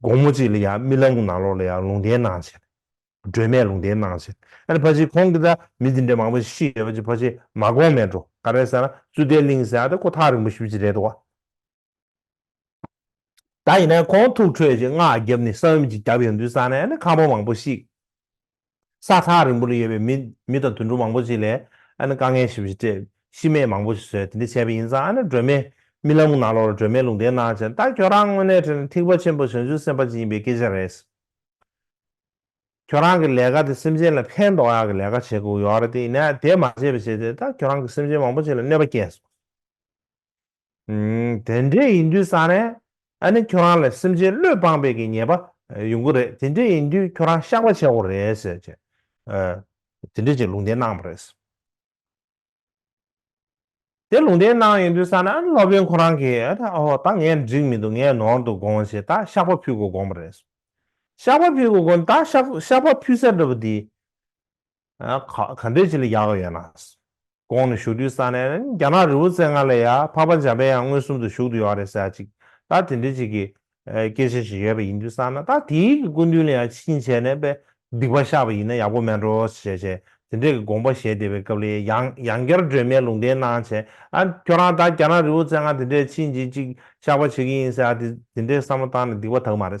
དགོང་མོ་གཅིག་ལ་ཡང་རྨི་ལམ་གྱི་ནང་ལོགས་ལ་ཡང་ལུང་བསྟན་གནང་བྱས། སྒྲོལ་མས་ལུང་བསྟན་གནང་བྱས། ཨ་ནི་ཕ་ཆེན་ཁོང་གི་ད་མི་འདི་འདྲའི་མང་པོ་ཞིག་ཤི་ཡོད་པ་ཅི་ཕ་ཆེན་མ་དགོངས་མེད་འགྲོ་ག་རེ་ཟེར་ན་ཙུ་ལྟའི་གླིང་ཟེར་ད་ཁོ་ཐག་རིང་པོ་ཞིག་ཅིག་རེད་དོ། ད་ཡིན་ན་ཁོང་ཐུགས་ཁྲོས་ཀྱི་སྔགས་བརྒྱབ་ནས་གསང་བའི་མི་ཅིག་བརྒྱབ་ཡོང་དུས་བསམ་ན་ཨ་ནི་ཁ་བ་མང་པོ་ཞིག། ས་ཐག་རིང་པོ་ལ་ཡོད་པའི་མི་མི་དང་དུད་འགྲོ་མང་པོ་ཞིག་ལས་ཨ་ན་དཀའ་ངལ་ཞིབ་བཞི་སྤྲད། ཤི་རྨས་མང་པོ་ཞིག་བཟོས་དེ་འདྲ་བྱས་པ་ཡིན་ཙང་ཨ་ན་སྒྲོལ་མས་རྨི་ལམ་གྱི་ནང་ལོགས་ལ་སྒྲོལ་མས་ལུང་བསྟན་གནང་བྱས་ད་ཁྱོད་རང་དངོས་གནས་དྲན་ན་ཐིགས་པ་ཆེན་པོ་བྱང་ཆུབ་སེམས་དཔའ་ཅན་ཡིན་པའི་སྐད་ཆ་རེད། ཁྱོད་རང་གི་ལས་ཀ་དེ་སེམས་ཅན་ལ་ཕན་འདོགས་ཡག་གི་ལས་ཀ་བྱེད་དགོས་ཡོད་རེད་དེ་ཡིན་ན་དེ་མ་བྱས་པ་བྱས་ཏེ་ད་ཁྱོད་རང་གི་སེམས་ཅན་མང་པོ་ཞིག་ལ་གནོད་པ་སྐྱེལ་སོང། དེ་འདྲས་ཡིན་དུས་སང་རས་ཨ་ནི་ཁྱོད་རང་ལ་སེམས་ཅན་བློས་སྤངས་པའི་གི་ཉེས་པ་ཡོང་གི་རེད་དེ་འདྲས་ཡིན་དུས་ཁྱོད་རང་བཤགས་པ་བྱེད་འོང་རེད་ཟེར་ཅེས་དེ་འདྲས་ཀྱི་ལུང་བསྟན་གནང་བ་རེད། དེ་ལུང་བསྟན་གནང་ཡོང་དུས་སང་རས་ཨ་ནི་སློབ་དཔོན་ཁོ་རང་གིས་ཨ་ཐ་ཨོ་ད་ངས་འགྲིག་མི་འདུག་ངས་ནོར་འདུག་དགོངས་ཞེས་ད་བཤགས་པ་ཕུལ་དགོས་དགོངས་པ་རེད། བཤགས་པ་ཕུལ་དགོས་དགོངས་ད་བཤགས་པ་ཕུལ་ས་འདྲ་བོ་འདི། ག་འདྲའི་ཆེད་ལས་རྒྱག་གི་ཡོད་ན། གོང་ནས་ཞུ་དུས་ས་གནས་རྒྱ་ནག་རི་བོ་རྩེ་ལྔ་ལས་ཡ་ཕག་པ་འཇམ་པའི་ཡང་མངོན་སུམ་དུ་བཞུགས་དུ་ཡོད་རེད་ཟེར་ཅིག་ད་དེ་འདྲའི་ཆེད་ཀྱི་སྐད་ཆ་ཞིག་ཡོད་པ་ཡིན་དུས་བསམ་ན་ད་དེའི་གི་སྐུ་མདུན་ལ་ཡང་ཕྱི་ཉིན་བྱས་ནས་དཔེ་སྡིག་པ་བཤགས་པ་ཡིན་ན་ཡག་པོ་མེད་འགྲོ་ཞེས་བྱས་དེ་འདྲའི་གི་དགོངས་པ་བཞེས་བསྡད་པའི་སྐབས་ལས་ཡང་ཡང་བསྐྱར་སྒྲོན་མེ་ལུང་བསྟན་གནང་བྱས་ཨ་ཁྱོད་རང་ད་རྒྱ་ནག་རི་བོ་རྩེ་ལྔ་དེ་འདྲའི་ཕྱི་ཉིན་ཅིག་བཤགས་པ་བྱེད་ཀྱི་ཡིན་ཟེར་ཨ་དེ་དེ་འདྲའི་བསམ་བློ་བཏང་ནས་སྡིག་པ་དག་མ་རེད།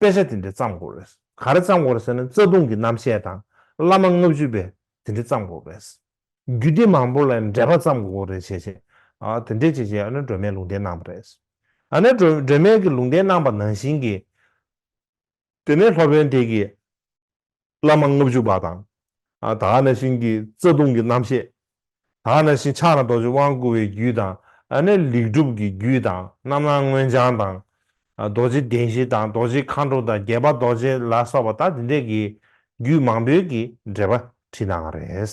དཔེ་ཆ་དེ་འདྲའི་བརྩམས་དགོས་རེད། ག་རེ་བརྩམས་དགོས་རེད་ཟེར་ན་རྩ་ལྟུང་གི་རྣམ་བཤད་དང་བླ་མ་ལྔ་བཅུ་པའི་དེ་འདྲའི་བརྩམས་དགོས་རེད། རྒྱུད་སྡེ་མང་པོ་ལ་ཡང་འགྲེལ་པ་བརྩམས་དགོས་ཀྱི་རེད་བྱས་བྱས། དེ་འདྲས་བྱས་བྱས་ཨ་ནུ་སྒྲོལ་མས་ལུང་བསྟན་གནང་བ་རེད། ཨ་ནུ་སྒྲོལ་མས་ཀྱི་ལུང་བསྟན་གནང་པ་ནང་བཞིན་གྱི། དེ་ནས་སློབ་དཔོན་དེས་ཀྱི། བླ་མ་ལྔ་བཅུ་པ་དང། དག་སྣང་ཞིང་གི་རྩ་ལྟུང་གི་རྣམ་བཤད། དག་སྣང་ཞིང་ཕྱག་ན་རྡོ་རྗེ་དབང་བསྐུར་བའི་རྒྱུད་དང། ནས་ལེགས་གྲུབ་ཀྱི་རྒྱུད་དང་རྣམ་སྣང་མངོན་བྱང་དང། རྡོ་རྗེ་གདན་བཞི་དང་རྡོ་རྗེ་མཁའ་འགྲོ་དང་རྒྱལ་བ་རྡོ་རྗེ་ལ་སོགས་པ་དག་འདི་འདྲ་གི་རྒྱུད་མང་པོའི་གི་འགྲེལ་པ་བྲིས་གནང་བ་རེད།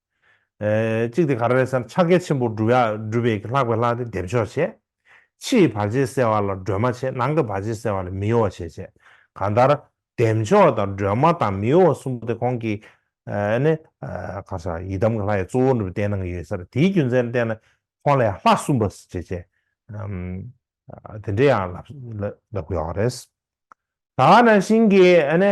གཅིག་དེ་ག་རེ་རེད་ཟེར་ན་ཕྱག་རྒྱ་ཆེན་པོ་སྒྲུབ་པའི་ལྷག་པའི་ལྷ་དེ་འདེབས་ཆོག་བྱེད། ཕྱིའི་བར་ཆད་སེལ་བ་ལ་སྒྲོལ་མ་བྱེད་ནང་གི་བར་ཆད་སེལ་བ་ལ་མི་གཡོ་བ་བྱེད་བྱེད། གང་ལྟར། འདེབས་ཆོག་དང་སྒྲོལ་མ་དང་མི་གཡོ་བ་གསུམ་པོ་དེ་གོང་གི། ནི། གང་ཟག་ཡི་དམ་གྱི་ལྷ་ཡི་གཙོ་བོ་འདི་བསྟན་གནང་གི་ཡོད་ས་རེད་དེའི་རྒྱུ་མཚན་བསྟན་ན། ཁོང་ལ་ཡང་ལྷ་གསུམ་པ་བྱེད་བྱེད། དེ་འདྲའི་ཡང་ལབ་ལབ་ཡོད་རེད། ད་ནང་བཞིན་གྱི།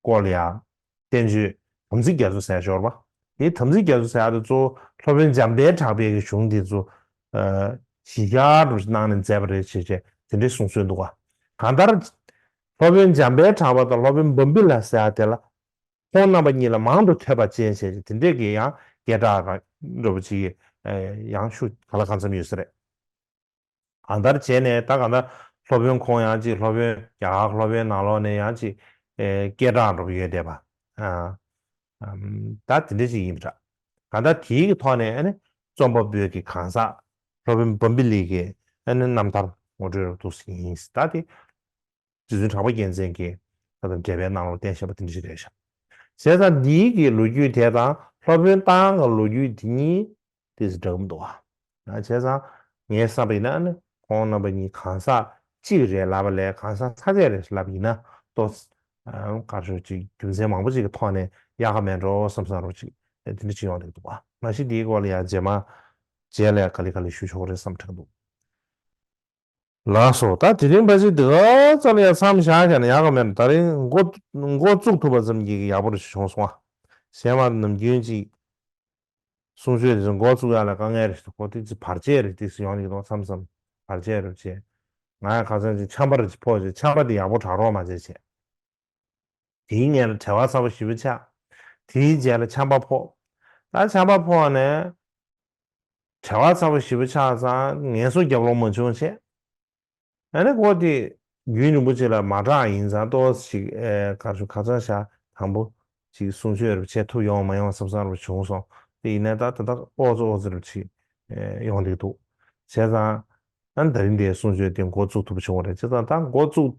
སྐོར་ལ་ཡང། བསྟན་བཅོས། དམ་ཚིག་རྒྱ་མཚོ་ཟས་ཞོར་པ། དེའི་དམ་ཚིག་རྒྱ་མཚོ་ཟས་ཨ་ཏི་གཙོ་བོ་སློབ་དཔོན་འཇམ་དཔལ་གྲགས་དཔལ་གྱི་གཞུང་འདི་ཚོ། ཞི་བྱར་དུ་གནང་ནས་མཛད་པ་རེད་ཅེས་བཅས་དེ་འདྲའི་གསུང་སྲོལ་འདུག་ག་གང་ལྟར། སློབ་དཔོན་འཇམ་དཔལ་གྲགས་པ་དང་སློབ་དཔོན་འབུམ་པི་ལ་ཟས་ཨ་ཏི་ལ། ཁོང་རྣམ་པ་གཉིས་ལ་མང་དུ་ཐོས་པ་ཅན་བྱས་ཅེས་དེ་འདྲས་ཀྱི་ཡང་སྐད་གྲགས། འགྲོ་བ་སྤྱི་ཡི་ཡང་ཤུགས་ག་ལ་གང་འཚམས་ཡོད་ས་རེད། གང་ལྟར་བྱས་ནས་ད་ག་ད་སློབ་དཔོན་ཁོང་ཡང་ཅིག་སློབ་དཔོན་རྒྱ་གར་སློབ་དཔོན་ནང་ལོགས་ནས་ཡང་ཅིག་སྐད་གྲགས་འགྲོ་གི་ཡོད་བསྡད་པ། ད་དེ་འདྲ་ཞིག་ཡིན་པ་འདྲ། གང་ལྟར་དེའི་གི་ཐོག་ནས་རྩོམ་པ་པོའི་གི་གང་ཟག་སློབ་དཔོན་བོམ་པི་ལིག་གི་རྣམ་ཐར་ངོ་སྤྲོད་རོགས་འདུག་ཟེར་གྱི་ཡིན། ད་དེ་རྗེ་བཙུན་གྲགས་པ་རྒྱལ་མཚན་གྱི་ལྷ་དང་འབྲེལ་པའི་གནང་ལུང་བསྟན་བཞེད་པ་འདི་འདྲ་ཞིག་རེད་བཞག། ཟས་གཙང་འདི་ཡི་གི་ལོ་རྒྱུས་དེ་དང་སློབ་དཔོན་རྟ་དབང་གི་ལོ་རྒྱུས་འདི་གཉིས་དེ་ཟིག་འདྲ་གི་མི་འདུག་ཨ། བྱས་ཙང་ངས་བསམ་པ་ཡིན་ན་ནི་ཁོང་རྣམ་པ་གཉིས་གང་ཟག་གཅིག་རེད་ལབ་པ་ལས་གང་ཟག་ཚ་ཚད་རེད་ལབ་ཡིན་ན་ལྟོས། དཀར་ཕྱོགས་ཀྱི་རྒྱུ་མཚན་མང་པོ་ཅིག་གི་ཐོག་ནས་ཡག་ག་མེད་འགྲོ་བསམ་བསམ་རོགས་ཅིག་དེ་འདྲ་ཅིག་ཡོང་རེག་འདུག་ཨ། མ་གཞི་འདིའི་སྐོར་ལ་ཡང་རྗེས་མ་རྗེས་ལ་ཡང་ག་ལེ་ག་ལེ་ཞུ་ཆོག་གི་རེད་བསམ་དྲག་འདུག། ལགས་སོ་ད་དེ་རིང་འབའ་ཞིག་འདི་ག་ཙམ་ཡང་མཚམས་བཞག་བཞག་ན་ཡག་གི་མེད་ན་ད་རིང་མགོ་མགོ་བཙུགས་ཐུབ་པ་ཙམ་གྱིས་ཡག་པོ་རེ་བྱུང་སོང་ཨ། གཞན་བར་ནམ་རྒྱུན་གཅིག་གསུང་ཆོས་དེ་ཚོ་མགོ་བཙུགས་ཡག་ལ་དཀའ་ངལ་རེ་ཞིག་འཁོར་དུས་ཚིག་བར་ཆད་རེ་ཏིག་སུ་ཡོང་གི་འདུག་མཚམས་མཚམས་བར་ཆད་རེ་བྱས། ང་ཡང་ཁ་ཚོན་གཅིག་འཆམ་པ་རེ་ཕོག་བྱས་འཆམ་པ་དེ་ཡག་པོ་དྲག་རོགས་མ་བྱས་བྱས། དེའི་མཉེ་ལ་བྲེ་བ་ཚ་བོ་བཞི་བོ་ཆགས། དེའི་རྗེས་ལ་ཆམ་པ་ཕོག། ད་ཆམ་པ་ཕོག་ནས། བྲེ་བ་ཚ་བོ་བཞི་བོ་ཆགས་ཙང་ངལ་གསོ་རྒྱབ་ལོང་མ་བྱུང་བྱས། ད་ནི་འཁོར་དེ། རྒྱུན་རིན་པོ་ཆེ་ལ་མ་གྲགས་ཡིན་ཙང་ལྟོ་བ་ཞིག་དཀར་ཆུ་ཁ་ཚང་ཞག་དང་པོ། ཅིག་གསུང་ཆོས་རེ་བ་བྱས་ཐུབ་ཡོང་མ་ཡོང་བསམ་བསམ་རེ་བ་བྱུང་སོང་དེ་ཡིན་ནའི་ད་ད་ལྟ་ཨོ་རྩོ་ཨོ་རྩོ་རེ་བ་ཅིག། ཡོང་བསྡད་འདུག་བྱས་ཙང། ད་ནི་ད་རིང་དེའི་གསུང་ཆོས་དེ་མགོ་བཙུགས་ཐུབ་པ་བྱུང་བ་རེད་བྱས་ཙང་ད་མགོ་བཙུགས།